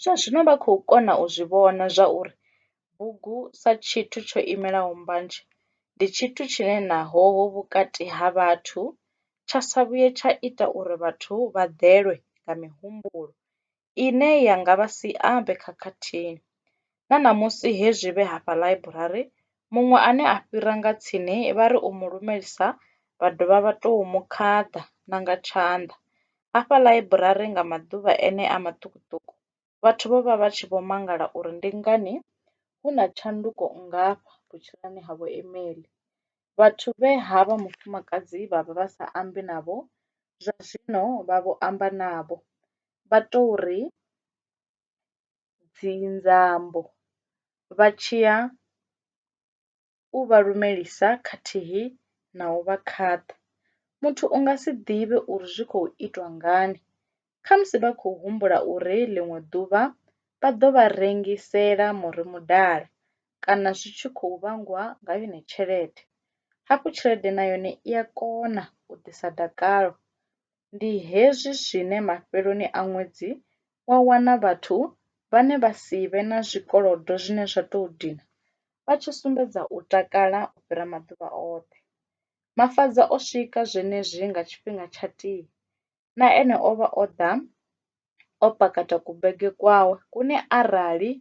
Zwa zwino vha khou kona u zwi vhona zwa uri bugu sa tshithu tsho imelaho mbanzhe ndi tshithu tshine naho hu vhukati ha vhathu tsha sa vhuye tsha ita uri vhathu vha ḓelwe nga mihumbulo ine ya nga vha sia vhe khakhathini. Na ṋamusi he zwi vhe hafha ḽaiburari, muṅwe ane a fhira nga tsini vha ri u mu lumelisa vha dovha vha tou mu khaḓa na nga tshanḓa. Afha ḽaiburari nga maḓuvha enea maṱukuṱuku, vhathu vho vha vha tshi vho mangala uri ndi ngani hu na tshanduko nngafha vhutshiloni ha vhoImeli. Vhathu vhe ha vha mufumakadzi vha vha vha sa ambi navho, zwa zwino vha vho amba navho, vha tou ri, dzi nzambo vha tshi ya u vha lumelisa khathihi na u vha khaṱha. Muthu u nga si ḓivhe uri zwi khou itwa ngani, khamusi vha khou humbula uri ḽiṅwe ḓuvha vha ḓo vha rengisela muri mudala kana zwi tshi khou vhangwa nga yone tshelede. Hafhu tshelede na yone i a kona u ḓisa dakalo ndi hezwi zwine mafheloni a ṅwedzi wa wana vhathu vhane vha si vhe na zwikolodo zwine zwa tou dina vha tshi sumbedza u takala u fhira maḓuvha oṱhe. Mafhaza o swika zwenezwi nga tshifhinga tsha tii. Na ene o vha o ḓa o pakata kubege kwawe kune arali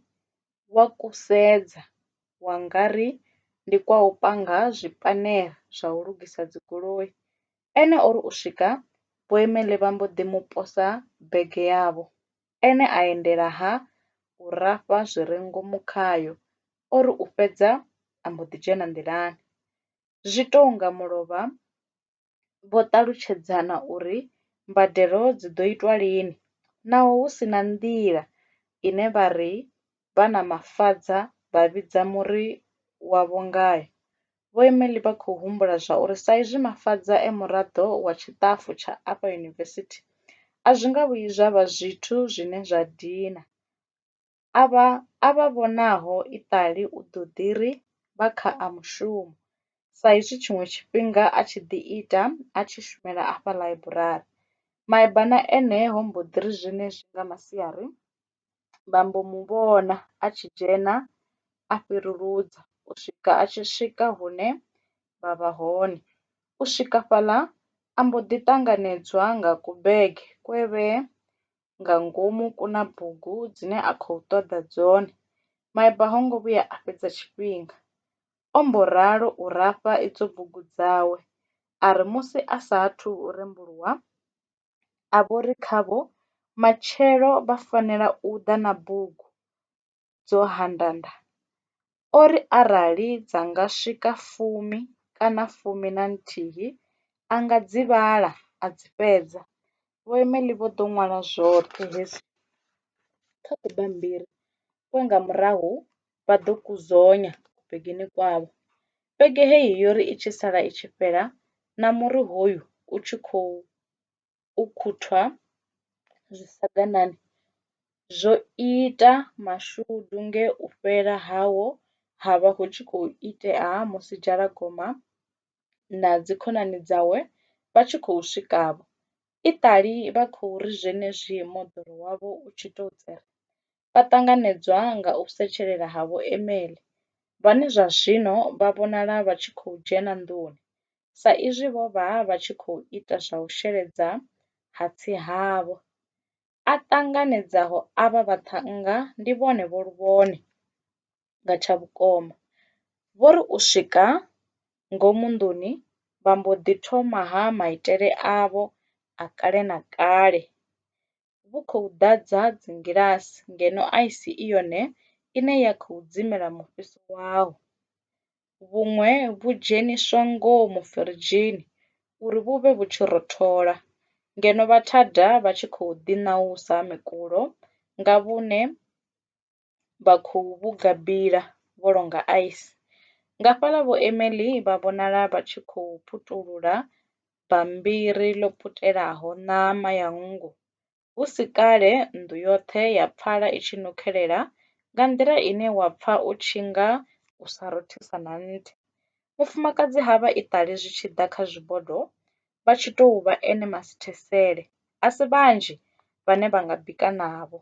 wa ku sedza wa nga ri ndi kwa u panga zwipanera zwa u lugisa dzigoloi. Ene o ri u swika Boimele vha mbo ḓi mu posa bege yavho, ene a endela ha u rafha zwi re ngomu khayo. O ri u fhedza a mbo ḓi dzhena nḓilani. Zwi tou nga mulovha vho ṱalutshedzana uri mbadelo dzi ḓo itwa lini naho hu si na nḓila ine vha ri vha na mafadza vha vhidza muri wavho ngae. Vho Emely vha khou humbula zwa uri sa izwi Mafadza e muraḓo wa tshiṱafu tsha afha yunivesithi, a zwi nga vhuyi zwa vha zwithu zwine zwa dina. Avha a vha vhonaho iṱali u ḓo ḓi ri vha kha a mushumo sa izwi tshiṅwe tshifhinga a tshi ḓi ita a tshi shumela afha ḽaiburari. Maebana ene ho mbo ḓi ri zwenezwi nga masiari vha mbo mu vhona a tshi dzhena a fhiruludzwa u swika a tshi swika hune vha vha hone. U swika fhaḽa a mbo ḓi ṱanganedzwa nga ku bege kwe vhe nga ngomu ku na bugu dzine a khou ṱoḓa dzone. Maeba ho ngo vhuya a fhedza tshifhinga o mbo ralo u rafha idzo bugu dzawe a ri musi a sa athu u rembuluwa a vho ri khavho, Matshelo vha fanela u ḓa na bugu dzo handanda. O ri arali dza nga swika fumi kana fumi na nthihi, a nga dzi vhala a dzi fhedza. Vho Emely vho ḓo ṅwala zwoṱhe hezwi kha kubammbiri kwe nga murahu vha ḓo ku dzonya begeni kwavho. Vhege heyi yo ri i tshi sala i tshi fhela na muri hoyu u tshi khou ukhuthwa zwisaganani zwo ita mashudu nge u fhela hawo ha vha hu tshi khou itea musi Dzhalagoma na dzikhonani dzawe vha tshi khou swika-vho. Iṱali vha khou ri zwenezwi moḓoro wavho u tshi tou tsere, vha ṱanganedzwa nga u setshelela ha Vho Emily, vhane zwa zwino vha vhonala vha tshi khou dzhena nḓuni sa izwi vho vha vha tshi khou ita zwa u sheledza hatsi havho. A ṱanganedzaho avha vhaṱhannga ndi vhone Vho Luvhone. Nga tsha vhukoma, vho ri u swika ngomu nḓuni vha mbo ḓi thoma-ha maitele avho a kale na kale. vhu khou ḓadza dzingilasi ngeno aisi i yone ine ya khou dzimela mufhiso waho. Vhuṅwe vhu dzheniswa ngomu firidzhini uri vhu vhe vhu tshi rothola ngeno vhathada vha tshi khou ḓiṋausa mikulo nga vhune vha khou vhuga bila vho longa ice. Nga fhaḽa Vho Emily vha vhonala vha tshi khou putulula bammbiri ḽo putelaho ṋama ya nngu. Hu si kale nnḓu yoṱhe ya pfala i tshi nukhelela nga nḓila ine wa pfa u tshi nga u sa rothisa na nthihi. Mufumakadzi ha vha iṱali zwi tshi ḓa kha zwibodo vha tshi tou vha ene masithesele. A si vhanzhi vhane vha nga bika navho.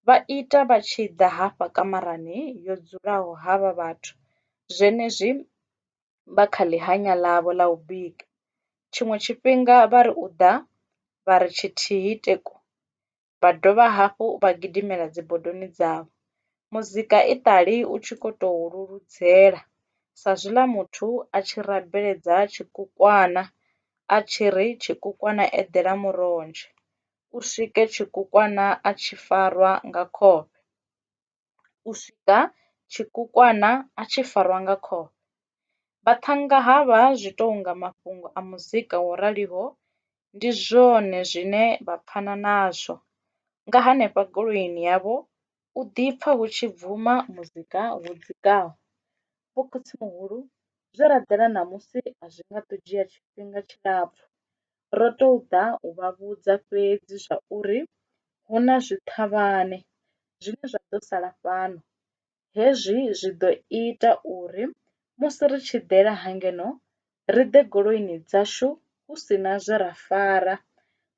vha ita vha tshi ḓa hafha kamarani yo dzulaho havha vhathu zwenezwi vha kha ḽi hanya ḽavho ḽa u bika tshiṅwe tshifhinga vha ri u ḓa vha ri tshithihi teku vha dovha hafhu vha gidimela dzi bodoni dzavho. Muzika i ṱali u tshi kho to leludzelwa sa zwiḽa muthu a tshi rabela tshikukwana a tshi ri tshikukwana eḓela murodzheni. u swike tshikukwana a tshi farwa nga khovhe. U swika tshikukwana a tshi farwa nga khovhe. Vhaṱhannga ha vha zwi tou nga mafhungo a muzika wo raliho ndi zwone zwine vha pfana nazwo. Nga hanefha goloini yavho u ḓi pfa hu tshi bvuma muzika wo dzikaho. Vho khotsimuhulu zwe ra ḓela ṋamusi a zwi nga ḓo dzhia tshifhinga tshilapfhu ro tou ḓa u vha vhudza fhedzi zwa uri hu na zwiṱhavhane zwine zwa ḓo sala fhano. Hezwi zwi ḓo ita uri musi ri tshi ḓela ha ngeno ri ḓe goloini dzashu hu si na zwe ra fara.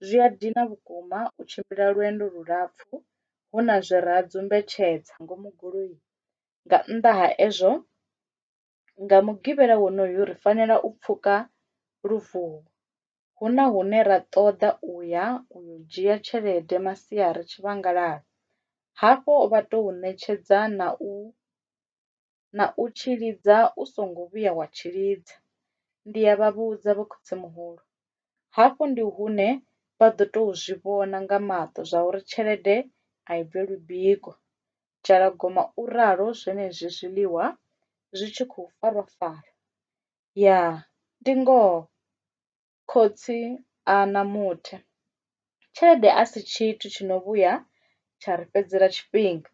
Zwi a dina vhukuma u tshimbila lwendo lulapfu hu na zwe ra dzumbetshedza ngomu goloini, nga nnḓa ha ezwo, Nga Mugivhela wonoyo ri fanela u pfuka luvhone. Hu na hune ra ṱoḓa u ya u yo dzhia tshelede masiari tshivhangalani, hafho vha tou ṋetshedza na u na u tshi lidza u songo vhuya wa tshi lidza. Ndi a vha vhudza vho khotsimuhulu. Hafho ndi hune vha ḓo tou zwi vhona nga maṱo zwauri tshelede a i bvelwi biko. Dzhalagoma u ralo zwenezwi zwiḽiwa zwi tshi khou farwa farwa. Ya, ndi ngoho khotsi a na muthe. Tshelede a si tshithu tshi no vhuya tsha ri fhedzela tshifhinga.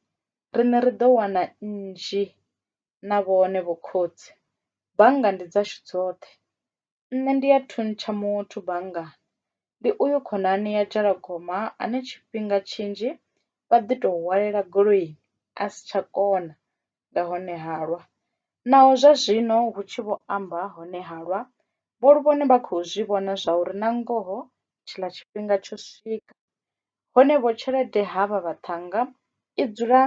Riṋe ri ḓo wana nnzhi na vhone vho khotsi. Bannga ndi dzashu dzoṱhe. Nṋe ndi a thuntsha muthu banngani ndi uyu khonani ya dzhalagoma ane tshifhinga tshinzhi vha ḓi to hwalela goloi a si tsha kona nga hone halwa, naho zwa zwino hu tshi vho amba hone halwa vho ri vhone vha khou zwi vhona zwa uri na ngoho tshiḽa tshifhinga tsho swika. Hone vho tshelede ha vha vhaṱhannga i dzula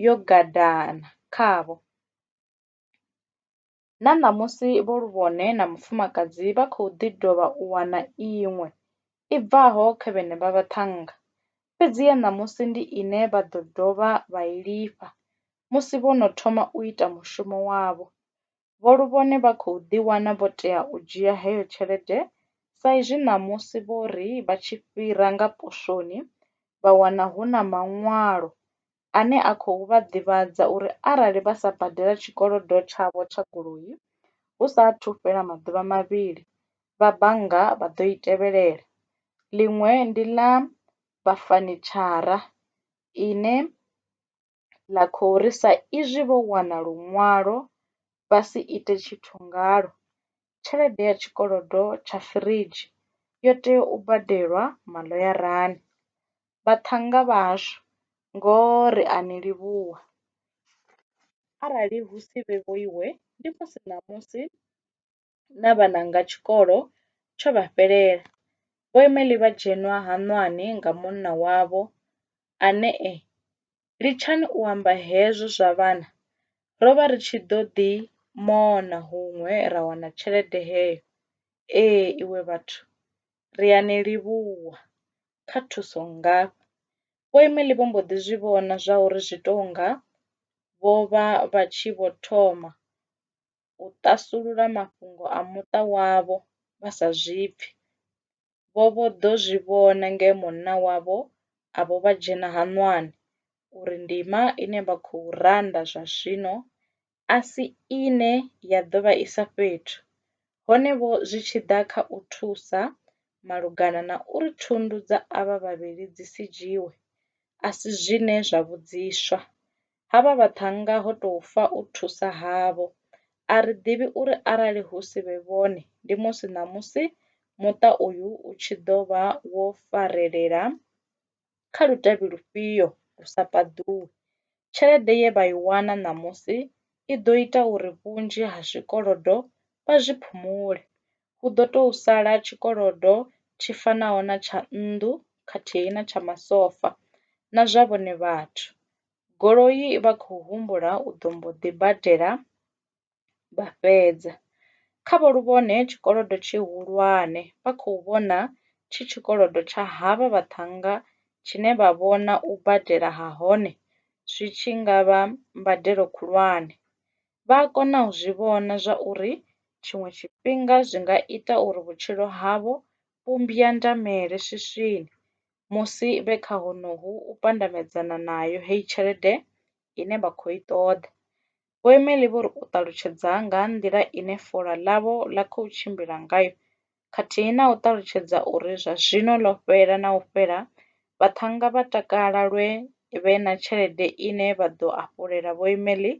yo gadana khavho. Na ṋamusi vho Luvhone na Mufumakadzi vha khou ḓi dovha u wana iṅwe i bvaho kha vhenevha vhaṱhannga, fhedzi ya ṋamusi ndi ine vha ḓo dovha vha i lifha musi vho no thoma u ita mushumo wavho. Vho Luvhone vha khou ḓi wana vho tea u dzhia heyo tshelede sa izwi ṋamusi vho ri vha tshi fhira nga poswoni vha wana hu na maṅwalo ane a khou vha ḓivhadza uri arali vha sa badela tshikolodo tshavho tsha goloi hu sa athu fhela maḓuvha mavhili, vha bannga vha ḓo i tevhelela. Ḽiṅwe ndi ḽa vha fanitshara ine ḽa khou ri sa izwi vho wana luṅwalo vha si ite tshithu ngalwo, tshelede ya tshikolodo tsha firidzhi yo tea u badelwa maḽoyarani. Vhaṱhannga vhashu ngoho ri a ni livhuwa. Arali hu si vhe vhoiwe ndi musi ṋamusi na vhananga tshikolo tsho vha fhelela. Vho Emely vha dzhenwa haṋwani nga munna wavho ane e Litshani u amba hezwo zwa vhana, ro vha ri tshi ḓo ḓi mona huṅwe ra wana tshelede heyo. Ee, iwe vhathu, ri a ni livhuwa kha thuso nngafha. Vho Emily vho mbo ḓi zwi vhona zwauri zwi tou nga vho vha vha tshi vho thoma u ṱasulula mafhungo a muṱa wavho vha sa zwi pfi. vho vho ḓo zwi vhona nge munna wavho a vho vha dzhena haṋwani uri ndima ine vha khou randa zwa zwino a si ine ya ḓo vha isa fhethu, hone-vho zwi tshi ḓa kha u thusa malugana na uri thundu dza avha vhavhili dzi si dzhiiwe, a si zwine zwa vhudziswa. ha vha vhaṱhannga ho tou fa u thusa havho. A ri ḓivhi uri arali hu si vhe vhone, ndi musi ṋamusi muṱa uyu u tshi ḓo vha wo farelela kha lutavhi lufhio lu sa paḓuwi. Tshelede ye vha i wana ṋamusi i ḓo ita uri vhunzhi ha zwikolodo vha zwi phumule. Hu ḓo tou sala tshikolodo tshi fanaho na tsha nnḓu khathihi na tsha masofa na zwa vhone vhathu. goloi i vha khou humbula u ḓo mbo ḓi badela vha fhedza. Kha vho Luvhone tshikolodo tshihulwane vha khou vhona tshi tshikolodo tsha havha vhaṱhannga tshine vha vhona u badela ha hone zwi tshi nga vha mbadelo khulwane. Vha a kona u zwi vhona zwa uri tshiṅwe tshifhinga zwi nga ita uri vhutshilo havho vhu mbwandamele swiswini musi vhe kha honohu u pandamedzana nayo heyi tshelede ine vha khou i ṱoḓa. Vho Emelie vho ri u ṱalutshedza nga ha nḓila ine fola ḽavho ḽa khou tshimbila ngayo khathihi na u ṱalutshedza uri zwa zwino ḽo fhela na u fhela, vhaṱhannga vha takala lwe vhe na tshelede ine vha ḓo hafulela Vho Emelie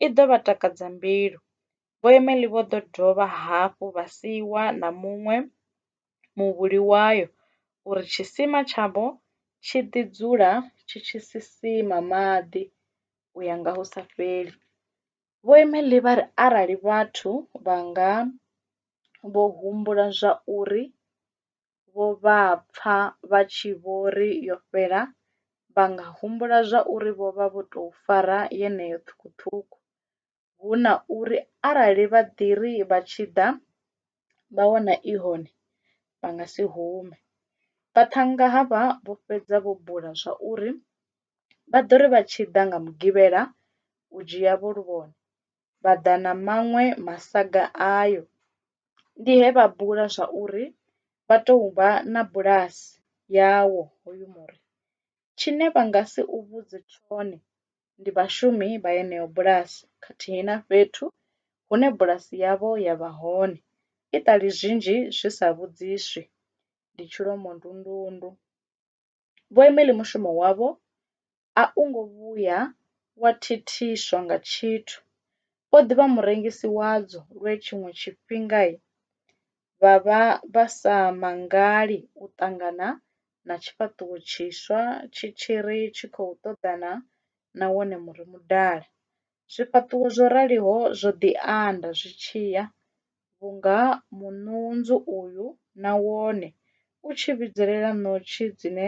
i ḓo vha takadza mbilu. Vho Emily vho ḓo dovha hafhu vha siiwa na muṅwe muvhuli wayo uri tshisima tshavho tshi ḓi dzula tshi tshi sisima maḓi u ya nga hu sa fheli. Vho Emily vha ri arali vhathu vha nga vho humbula zwa uri vho vha pfa vha tshi vho ri yo fhela, vha nga humbula zwa uri vho vha vho tou fara yeneyo ṱhukhuṱhukhu. hu na uri arali vha ḓi ri vha tshi ḓa vha wana i hone vha nga si hume. Vhaṱhannga havha vho fhedza vho bula zwa uri vha ḓo ri vha tshi ḓa nga Mugivhela u dzhia vho luvhone vha ḓa na maṅwe masaga ayo. Ndi he vha bula zwa uri vha tou vha na bulasi yawo hoyu muri. Tshine vha nga si u vhudze tshone ndi vhashumi vha yeneyo bulasi khathihi na fhethu hune bulasi yavho ya vha hone, iṱali zwinzhi zwi sa vhudziswi, ndi tshilomondundundu. Vho Emily mushumo wavho a u ngo vhuya wa thithiswa nga tshithu. O ḓi vha murengisi wadzo lwe tshiṅwe tshifhinga vha vha vha sa mangali u ṱangana na tshifhaṱuwo tshiswa tshi tshi ri tshi khou ṱoḓana na wone muri mudala. Zwifhaṱuwo zwo raliho zwo ḓi anda zwi tshi ya, vhunga muṋuwunzu uyu na wone u tshi vhidzelela ṋotshi dzine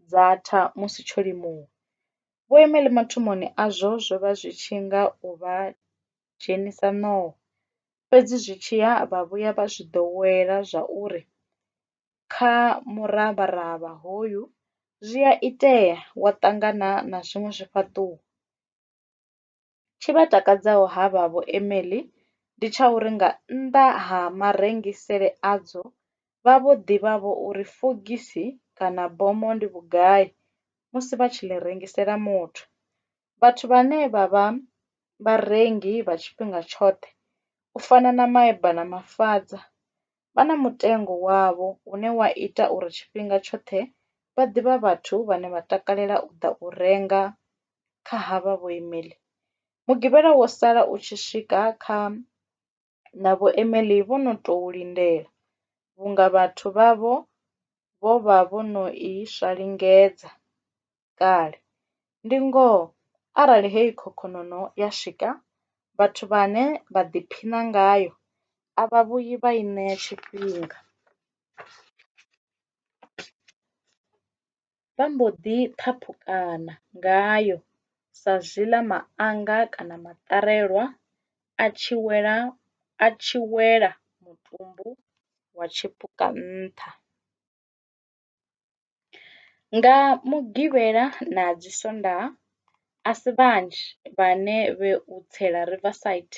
dza tha musi tsho limuwa. Vho Imeli mathomoni azwo zwo vha zwi tshi nga u vha dzhenisa ṋowa. Fhedzi zwi tshi ya vha vhuya vha zwi ḓowela zwa uri kha muravharavha hoyu zwi a itea wa ṱangana na zwiṅwe zwifhaṱuwo. Tshi vha takadzaho ha vha vho Emily ndi tsha uri nga nnḓa ha marengisele adzo vha vho ḓivha vho uri fogisi kana bomo ndi vhugai musi vha tshi ḽi rengisela muthu. vhathu vhane vha vha vharengi vha tshifhinga tshoṱhe u fana na maeba na mafhaṱa vha na mutengo wavho une wa ita uri tshifhinga tshoṱhe vha ḓivha vhathu vhane vha takalela u ḓa u renga kha havha vho imile. Mugivhala wo sala u tshi swika kha na Vho Emily vho no tou lindela, vhunga vhathu vhavho vho vha vho no i swa lingedza kale. Ndi ngoho, arali heyi khokhononoo ya swika, vhathu vhane vha ḓiphina ngayo a vha vhuyi vha i ṋea tshifhinga. vha mbo ḓi ṱhaphukana ngayo sa zwiḽa maanga kana maṱarelwa a tshi wela a tshi wela mutumbu wa tshipuka nṱha. Nga Mugivhela na dzi Sondaha a si vhanzhi vhane vhe u tsela Riverside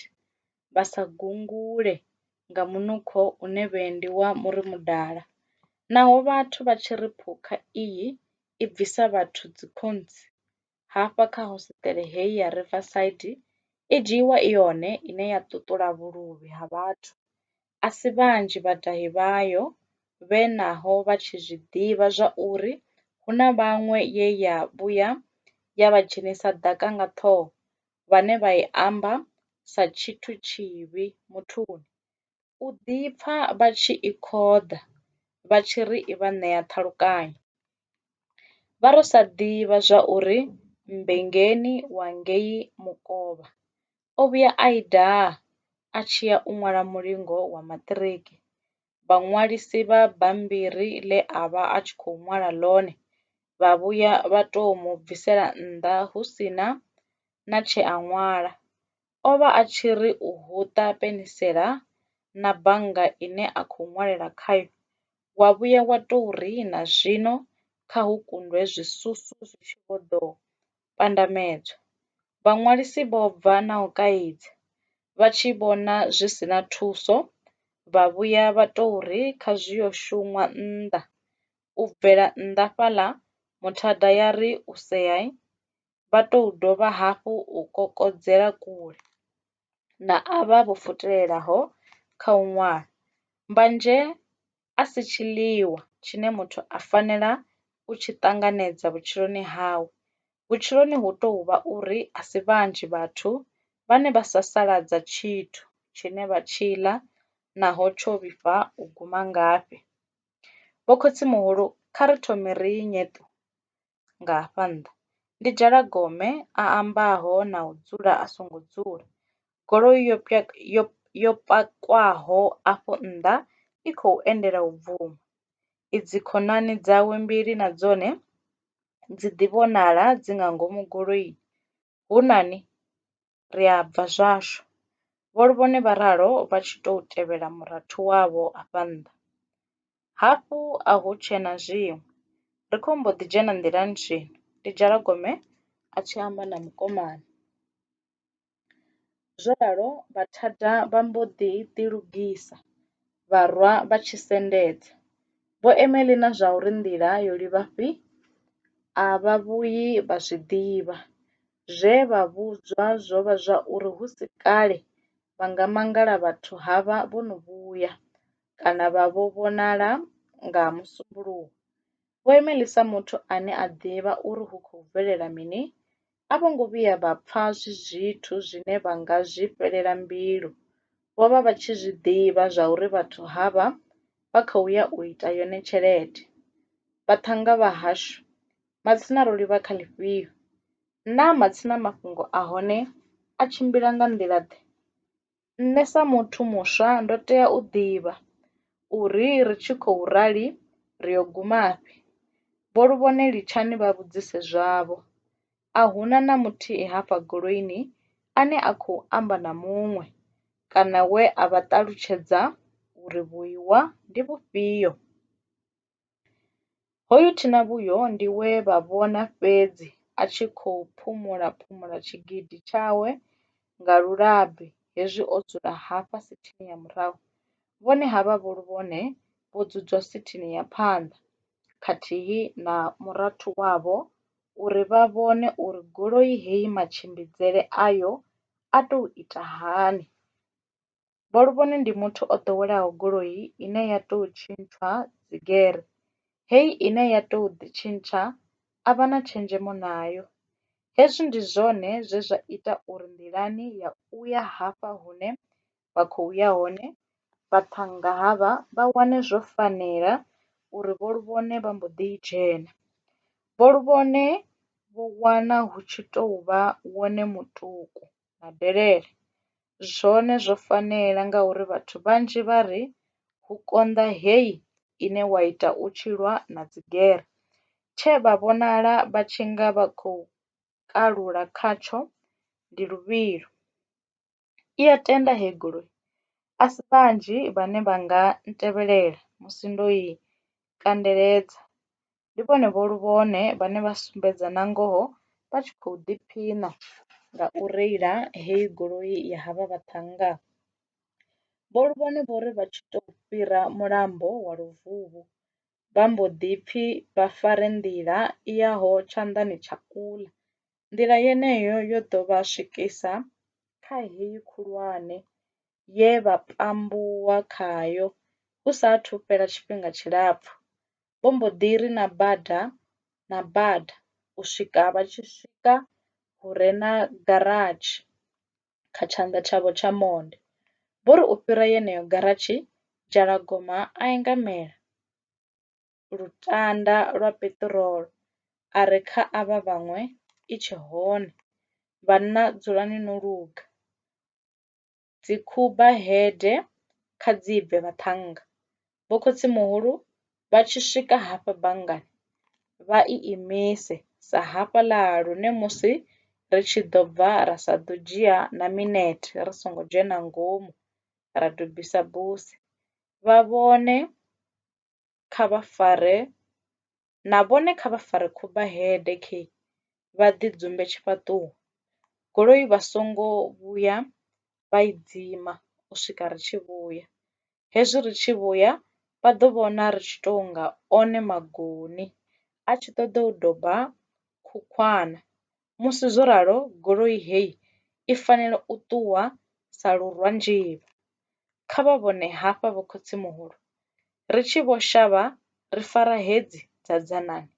vha sa gungule nga munukho une vhuendi wa muri mudala. Naho vhathu vha tshi ri phukha iyi i bvisa vhathu dzikhontsi, hafha kha hosiṱere heyi ya Riverside i dzhiiwa i yone ine ya ṱuṱula vhuluvhi ha vhathu. A si vhanzhi vhadahi vhayo vhe naho vha tshi zwi ḓivha zwa uri hu na vhaṅwe ye ya vhuya ya vha dzhenisa ḓaka nga ṱhoho vhane vha i amba sa tshithu tshivhi muthuni, u ḓipfa vha tshi i khoḓa vha tshi ri i vha ṋea ṱhalukanyo. Vha ro sa ḓivha zwa uri Mmbengeni wa ngei Mukovha o vhuya a i daha a tshi ya u ṅwala mulingo wa maṱiriki vhaṅwalisi vha bammbiri ḽe a vha a tshi khou ṅwala ḽone vha vhuya vha tou mu bvisela nnḓa hu si na na tshe a ṅwala. O vha a tshi ri u huṱa penisela na bannga ine a khou ṅwalela khayo wa vhuya wa tou ri na zwino kha hu kundwe zwisusu zwi tshi vho ḓo pandamedzwa. Vhaṅwalisi vho bva na u kaidza, vha tshi vhona zwi si na thuso, vha vhuya vha tou ri kha zwi yo shunwa nnḓa. U bvela nnḓa fhaḽa, muthada ya ri u seai, vha tou dovha hafhu u kokodzela kule na avha vho futelelaho kha u ṅwala. Mbanzhe a si tshiḽiwa tshine muthu a fanela u tshi ṱanganedza vhutshiloni hawe. Vhutshiloni hu tou vha uri a si vhanzhi vhathu vhane vha sasaladza tshithu tshine vha tshi ḽa naho tsho vhifha u guma ngafhi. Vho khotsimuhulu kha ri thome ri ṋe ṱu! nga hafha nnḓa. Ndi dzhala gome a ambaho na u dzula a songo dzula. Goloi yo yo yo pakwaho afho nnḓa i khou endela u bvuma. I dzi khonani dzawe mbili na dzone dzi ḓi vhonala dzi nga ngomu goloini. Hu na ni? ri a bva zwashu, vho vhone vha ralo vha tshi tou tevhela murathu wavho afha nnḓa. Hafhu a hu tshe na zwiṅwe, ri khou mbo ḓi dzhena nḓilani zwino, ndi Dzhalagome a tshi amba na mukomana. Zwo ralo Vhathada vha mbo ḓi ḓilugisa, vha rwa vha tshi sendedza. Vho Emily na zwa uri nḓila yo livha fhi, a vha vhuyi vha zwi ḓivha. Zwe vha vhudzwa zwo vha zwa uri hu si kale vha nga mangala vhathu ha vha vho no vhuya kana vha vho vhonala nga Musumbuluwo. Vho Emily sa muthu ane a ḓivha uri hu khou bvelela mini, a vho ngo vhuya vha pfa zwi zwithu zwine vha nga zwi fhelela mbilu. Vho vha vha tshi zwi ḓivha zwauri vhathu ha vha vha khou ya u ita yone tshelede. Vhaṱhannga vha hashu Matsina ro livha kha ḽifhio? Naa matsina mafhungo a hone a tshimbila nga nḓila-ḓe? Nṋe sa muthu muswa ndo tea u ḓivha uri ri tshi khou rali ri yo gumafhi. Vho Luvhone litshani vha vhudzise zwavho. A hu na na muthihi hafha goloini ane a khou amba na muṅwe kana we a vha ṱalutshedza uri vhuiwa ndi vhufhio. Hoyu thinavhuyo ndi we vha vhona fhedzi a tshi khou phumula-phumula tshigidi tshawe nga lulabi hezwi o dzula hafha sithini ya murahu, vhone havha vho luvhone vho dzudzwa sithini ya phanḓa khathihi na murathu wavho uri vha vhone uri goloi heyi matshimbidzele ayo a tou ita hani. Vho Luvhone ndi muthu o ḓowelaho goloi ine ya tou tshintshwa dzigere, heyi ine ya tou ḓitshintsha a vha na tshenzhemo nayo. Hezwi ndi zwone zwe zwa ita uri nḓilani ya u ya hafha hune vha khou ya hone vhaṱhannga havha vha wane zwo fanela uri Vho Luvhone vha mbo ḓi i dzhena. Vho Luvhone vho wana hu tshi tou vha wone mutuku na delele zwone zwo fanela ngauri vhathu vhanzhi vha ri hu konḓa heyi ine wa ita u tshi lwa na dzigere tshe vha vhonala vha tshi nga vha khou kalula khatsho ndi luvhilo. I a tenda heyi goloi a si vhanzhi vhane vha nga ntevhelela musi ndo i kandeledza ndi vhone vho lu vhone vhane vha sumbedza na ngoho vha tshi khou ḓiphina nga u reila heyi goloi ya havha vhaṱhannga. Vho Luvhone vho ri vha tshi tou fhira mulambo wa Luvhuvhu, vha mbo ḓi pfi vha fare nḓila i yaho tshanḓani tsha kuḽa. Nḓila yeneyo yo ḓo vha swikisa kha heyi khulwane ye vha pambuwa khayo hu sa athu fhela tshifhinga tshilapfu. vho mbo ḓi ri na bada na bada u swika vha tshi swika hu re na garatshi kha tshanḓa tshavho tsha monde. Vho ri u fhira yeneyo garatshi Dzhalagoma a ingamela lutanda lwa peṱirolo a ri kha avha vhaṅwe i tshe hone, vhanna dzulani no luga. dzi khuba hede kha dzi bve vhaṱhannga. Vho khotsimuhulu vha tshi swika hafha banngani vha i imise sa hafhaḽa lune musi ri tshi ḓo bva ra sa ḓo dzhia na minete ri songo dzhena ngomu ra dobisa buse vha vhone kha vha fare na vhone kha vha fare khofhe head khei vha ḓi dzumbe tshifhaṱuwo goloi vha songo vhuya vha i dzima u swika ri tshi vhuya, hezwi ri tshi vhuya vha ḓo vhona ri tshi to nga one magoni a tshi ṱoḓa u doba khukhwana musi zwo ralo goloi heyi i fanela u ṱuwa sa lurwanzhila. Kha vha vhone hafha vho khotsimuhulu, ri tshi vho shavha ri fara hedzi dza dzanani,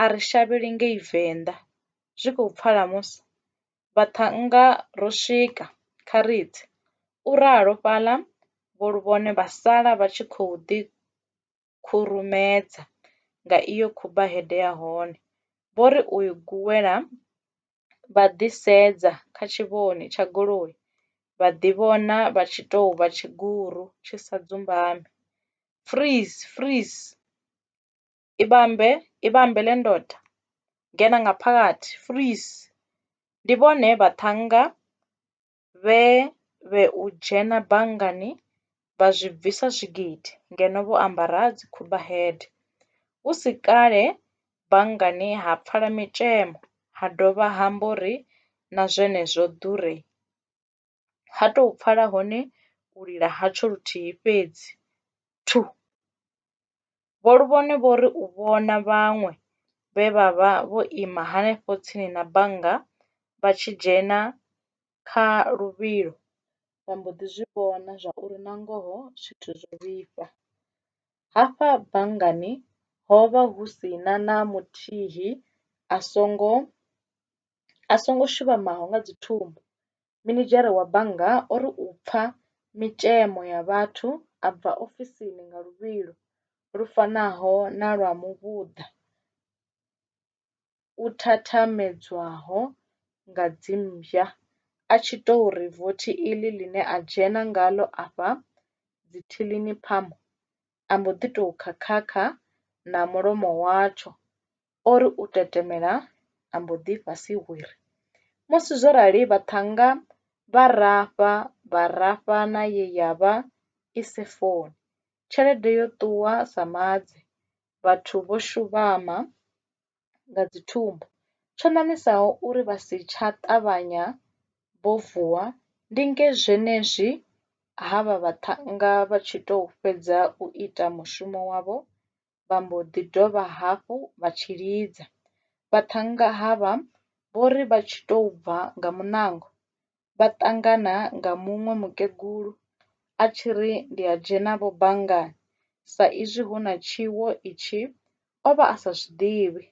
a ri shavheli ngei Venḓa. Zwi khou pfala musi? Vhaṱhannga ro swika, kha ri tse! u ralo fhaḽa Vho Luvhone vha sala vha tshi khou ḓi. khurumedza nga iyo khubaheḓe ya hone, vho ri u i guwela vha ḓi sedza kha tshivhoni tsha goloi vha ḓi vhona vha tshi tou vha tshiguru tshi sa dzumbami. Freeze! Freeze! I vhambe, i vhambe le ndode! Dzhena nga phakathi! Freeze! Ndi vhone vhaṱhannga vhe vhe u dzhena banngani vha zwi bvisa zwigidi ngeno vho ambara dzikhumba hede. Hu si kale banngani ha pfala mitshemo ha dovha ha mbo ri na zwenezwo ḓure. Ha tou pfala hone u lila hatsho luthihi fhedzi. Thu! Vho Luvhone vho ri u vhona vhaṅwe vhe vha vha vho ima henefho tsini na bannga vha tshi dzhena kha luvhilo, vha mbo ḓi zwi vhona zwauri nangoho zwithu zwo vhifha. Hafha banngani ho vha hu si na na muthihi a songo a songo shuvhamaho nga dzi thumbu. minidzhere wa bannga o ri u pfa mitshemo ya vhathu a bva ofisini nga luvhilo lu fanaho na lwa muvhuḓa u thathamedzwaho nga dzimmbwa a tshi tou ri vothi iḽi ḽine a dzhena ngaḽo afha dzithilini phamu, a mbo ḓi tou khakhakha na mulomo watsho O ri u tetemela a mbo ḓi fhasi hwiri. Musi zwo rali vhaṱhannga vha rafha vha rafha na ye ya vha i si funi. Tshelede yo ṱuwa sa maḓi, vhathu vho shuvhama nga dzithumbu. Tsho ṋaṋisaho uri vha si tsha ṱavhanya vho vuwa ndi nge zwenezwi havha vhaṱhannga vha tshi tou fhedza u ita mushumo wavho vha mbo ḓi dovha hafhu vha tshilidza. Vhaṱhannga havha vho ri vha tshi tou bva nga muṋango, vha ṱangana nga muṅwe mukegulu a tshi ri ndi a dzhena vho banngani sa izwi hu na tshiwo itshi o vha a sa zwi ḓivhi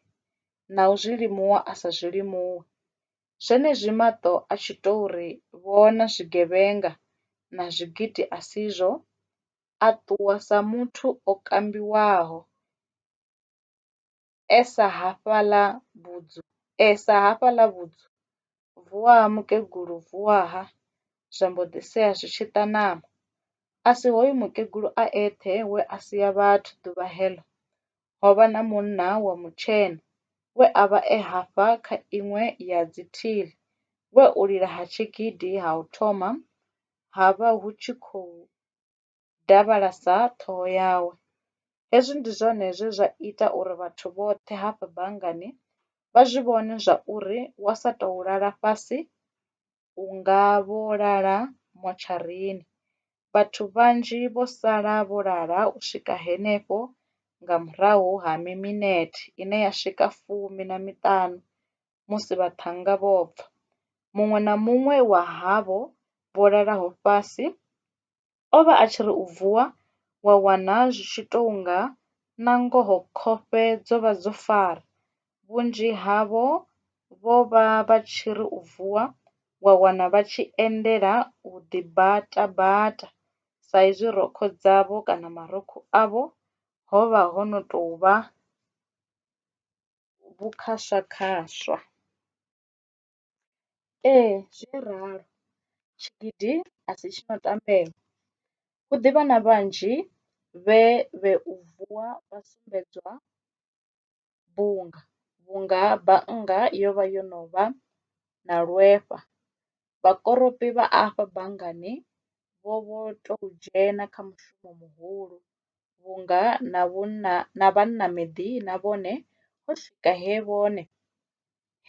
na u zwi limuwa a sa zwi limuwi. Zwenezwi maṱo a tshi tou ri vhona zwigevhenga na zwigidi a si zwo a ṱuwa sa muthu o kambiwaho e sa hafhaḽa vhudzu e sa hafhaḽa vhudzu, vuwa ha mukegulu vuwa ha zwa mbo ḓi sea zwi tshi ita ṋama a si hoyu mukegulu a eṱhe we a sia vhathu ḓuvha heḽo ho vha na munna wa mutshena we a vha e hafha kha iṅwe ya dzi thili we u lila ha tshigidi ha u thoma ha vha hu tshi khou davhalasa ṱhoho yawe. Hezwi ndi zwone zwe zwa ita uri vhathu vhoṱhe hafha banngani vha zwi vhone zwa uri wa sa tou lala fhasi u nga vho lala motsharini. Vhathu vhanzhi vho sala vho lala u swika henefho nga murahu ha mi minete ine ya swika fumi na miṱanu musi vhaṱhannga vho bva. Muṅwe na muṅwe wa havho vho lalaho fhasi o vha a tshi ri u vuwa wa wana zwi tshi tou nga nangoho khofhe dzo vha dzo fara. Vhunzhi havho vho vha vha tshi ri u vuwa wa wana vha tshi endela u ḓi bata bata sa izwi rokho dzavho kana marukhu avho ho vha ho no tou vha vhukhaswakhaswa. Ee, zwo ralo tshigidi a si tshi no tambea, hu ḓi vha na vhanzhi vhe vhe u vuwa vha sumbedzwa bunga vhunga bannga yo vha yo no vha na lwehwa Vhakoropi vha afha banngani vho vho tou dzhena kha mushumo muhulu vhunga na vhunna na vhanna miḓina vhone ho swika he vhone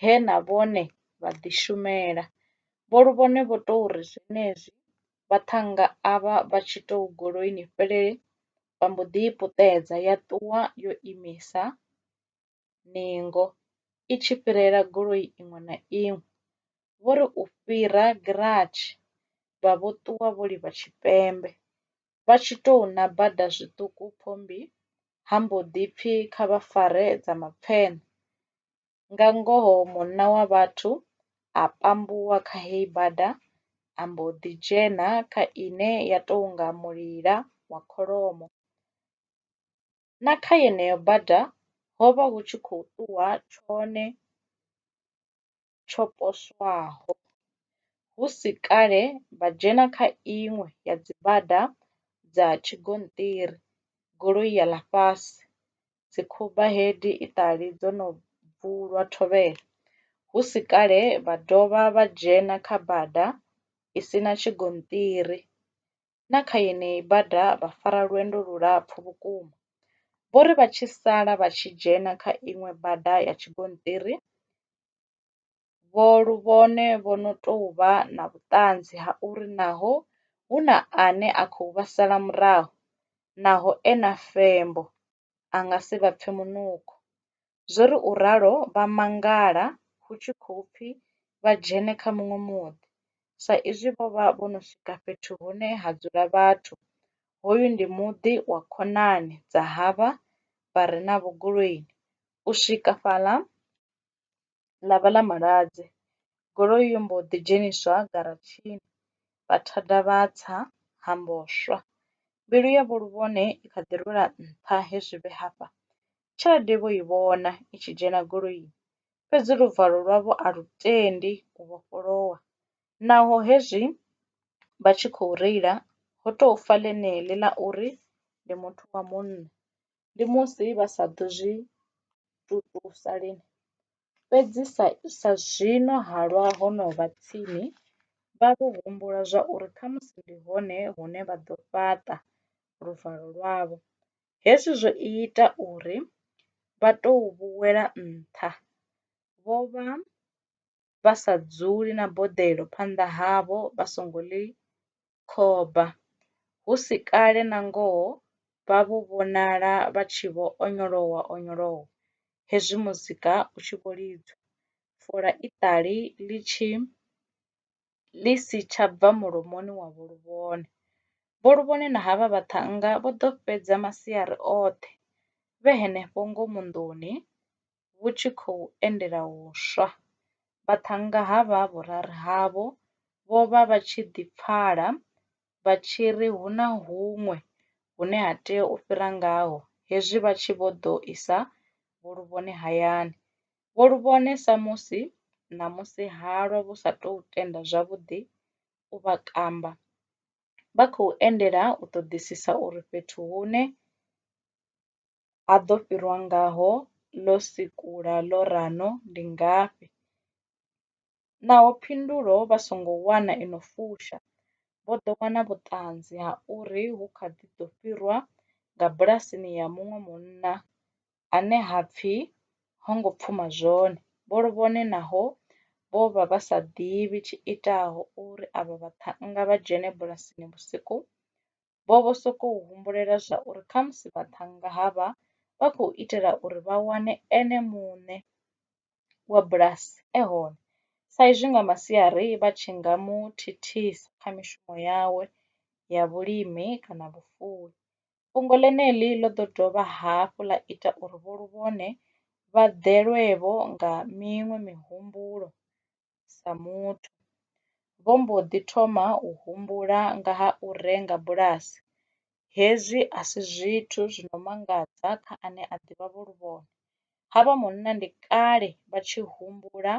he na vhone vha ḓi shumela. Vho Luvhone vho tou ri zwenezwi vhaṱhannga avha vha tshi tou goloini fhelele vha mbo ḓi i puṱedza ya ṱuwa yo imisa. ningo i tshi fhirela goloi iṅwe na iṅwe, vho ri u fhira giratshi vha vho ṱuwa vho livha tshipembe. Vha tshi tou na bada zwiṱuku Phommbi ha mbo ḓi pfi kha vha fare dza mapfeṋe. Nga ngoho munna wa vhathu a pambuwa kha heyi bada a mbo ḓi dzhena kha ine ya tou nga mulila wa kholomo. na kha yeneyo bada ho vha hu tshi khou ṱuwa tshone tsho poswaho, hu si kale vha dzhena kha iṅwe ya dzibada dza tshigonṱiri, goloi ya ḽa fhasi, dzikhuba hedi iṱali dzo no bvulwa thovhele, hu si kale vha dovha vha dzhena kha bada i si na tshigonṱiri, na kha yeneyi bada vha fara lwendo lulapfu vhukuma. Vho ri vha tshi sala vha tshi dzhena kha iṅwe bada ya tshigonṱiri, vho luvhone vho no tou vha na vhuṱanzi ha uri naho hu na ane a khou vha sala murahu, naho e na fembo, a nga si vha pfe munukho. Zwo ri u ralo vha mangala hu tshi khou pfi vha dzhene kha muṅwe muḓi, sa izwi vho vha vho no swika fhethu hune ha dzula vhathu. Hoyu ndi muḓi wa khonani dza havha vha re na Vho Goloini. U swika fhaḽa ḽa vha ḽa Maladze, goloi yo mbo ḓi dzheniswa garatshini vha thada vha tsa ha mbo swa. Mbilu ya Vho Luvhone i kha ḓi rwela nṱha he zwi vhe hafha Tshelede vho i vhona i tshi dzhena goloini, fhedzi luvalo lwavho a lu tendi u vhofholowa. Naho hezwi vha tshi khou reila, ho tou fa ḽeneḽi ḽa uri ndi muthu wa munna. Ndi musi vha sa ḓo zwi tutusa lini, fhedzi sa sa zwino halwa ho no vha tsini, vha vho humbula zwa uri khamusi ndi hone hune vha ḓo fhaṱa luvalo lwavho. Hezwi zwo ita uri vha tou vhu wela nṱha. Vho vha vha sa dzuli na boḓelo phanḓa havho vha songo ḽi khoba. Hu si kale nangoho vha vho vhonala vha tshi vho onyolowa-onyolowa hezwi muzika u tshi vho lidzwa, fola iṱali ḽi tshi ḽi si tsha bva mulomoni wa Vho Luvhone. Vho Luvhone na havha vhaṱhannga vho ḓo fhedza masiari oṱhe vhe henefho ngomu nḓuni vhu tshi khou endela u swa. Vhaṱhannga havha vhuraru havho vho vha vha tshi ḓi pfala vha tshi ri hu na huṅwe hune ha tea u fhira ngaho hezwi vha tshi vho ḓo isa Vho Luvhone hayani. vho lu vhone sa musi ṋamusi halwa vhu sa tou tenda zwavhuḓi u vha kamba, vha khou endela u ṱoḓisisa uri fhethu hune ha ḓo fhirwa ngaho ḽo sikula ḽo rano ndi ngafhi. Naho phindulo vha songo wana i no fusha, vho ḓo wana vhuṱanzi ha uri hu kha ḓi ḓo fhirwa nga bulasini ya muṅwe munna ane ha pfi ho ngo pfuma zwone. Vho Lovhone naho vho vha vha sa ḓivhi tshiitaho uri avha vhaṱhannga vha dzhene bulasini vhusiku, vho vho sokou humbulela zwa uri khamusi vhaṱhannga havha vha khou itela uri vha wane ene muṋe wa bulasi e hone sa izwi nga masiari vha tshi nga mu thithisa kha mishumo yawe ya vhulimi kana vhufuwi. Fhungo ḽeneḽi ḽo ḓo dovha hafhu ḽa ita uri Vho Luvhone vha ḓelwe-vho nga miṅwe mihumbulo sa muthu. Vho mbo ḓi thoma u humbula nga ha u renga bulasi. Hezwi a si zwithu zwi no mangadza kha ane a ḓivha vho Luvhone. Havha munna ndi kale vha tshi humbula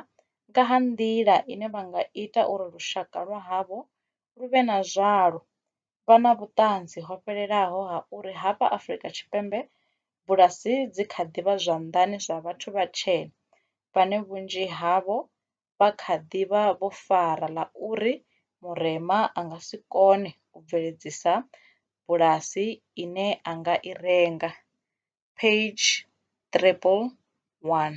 nga ha nḓila ine vha nga ita uri lushaka lwa havho lu vhe na zwalo. vha na vhuṱanzi ho fhelelaho ha uri hafha Afrika Tshipembe bulasi dzi kha ḓi vha zwanḓani zwa vhathu vhatshena vhane vhunzhi havho vha kha ḓi vha vho fara ḽa uri murema a nga si kone u bveledzisa bulasi ine a nga i renga, page 311.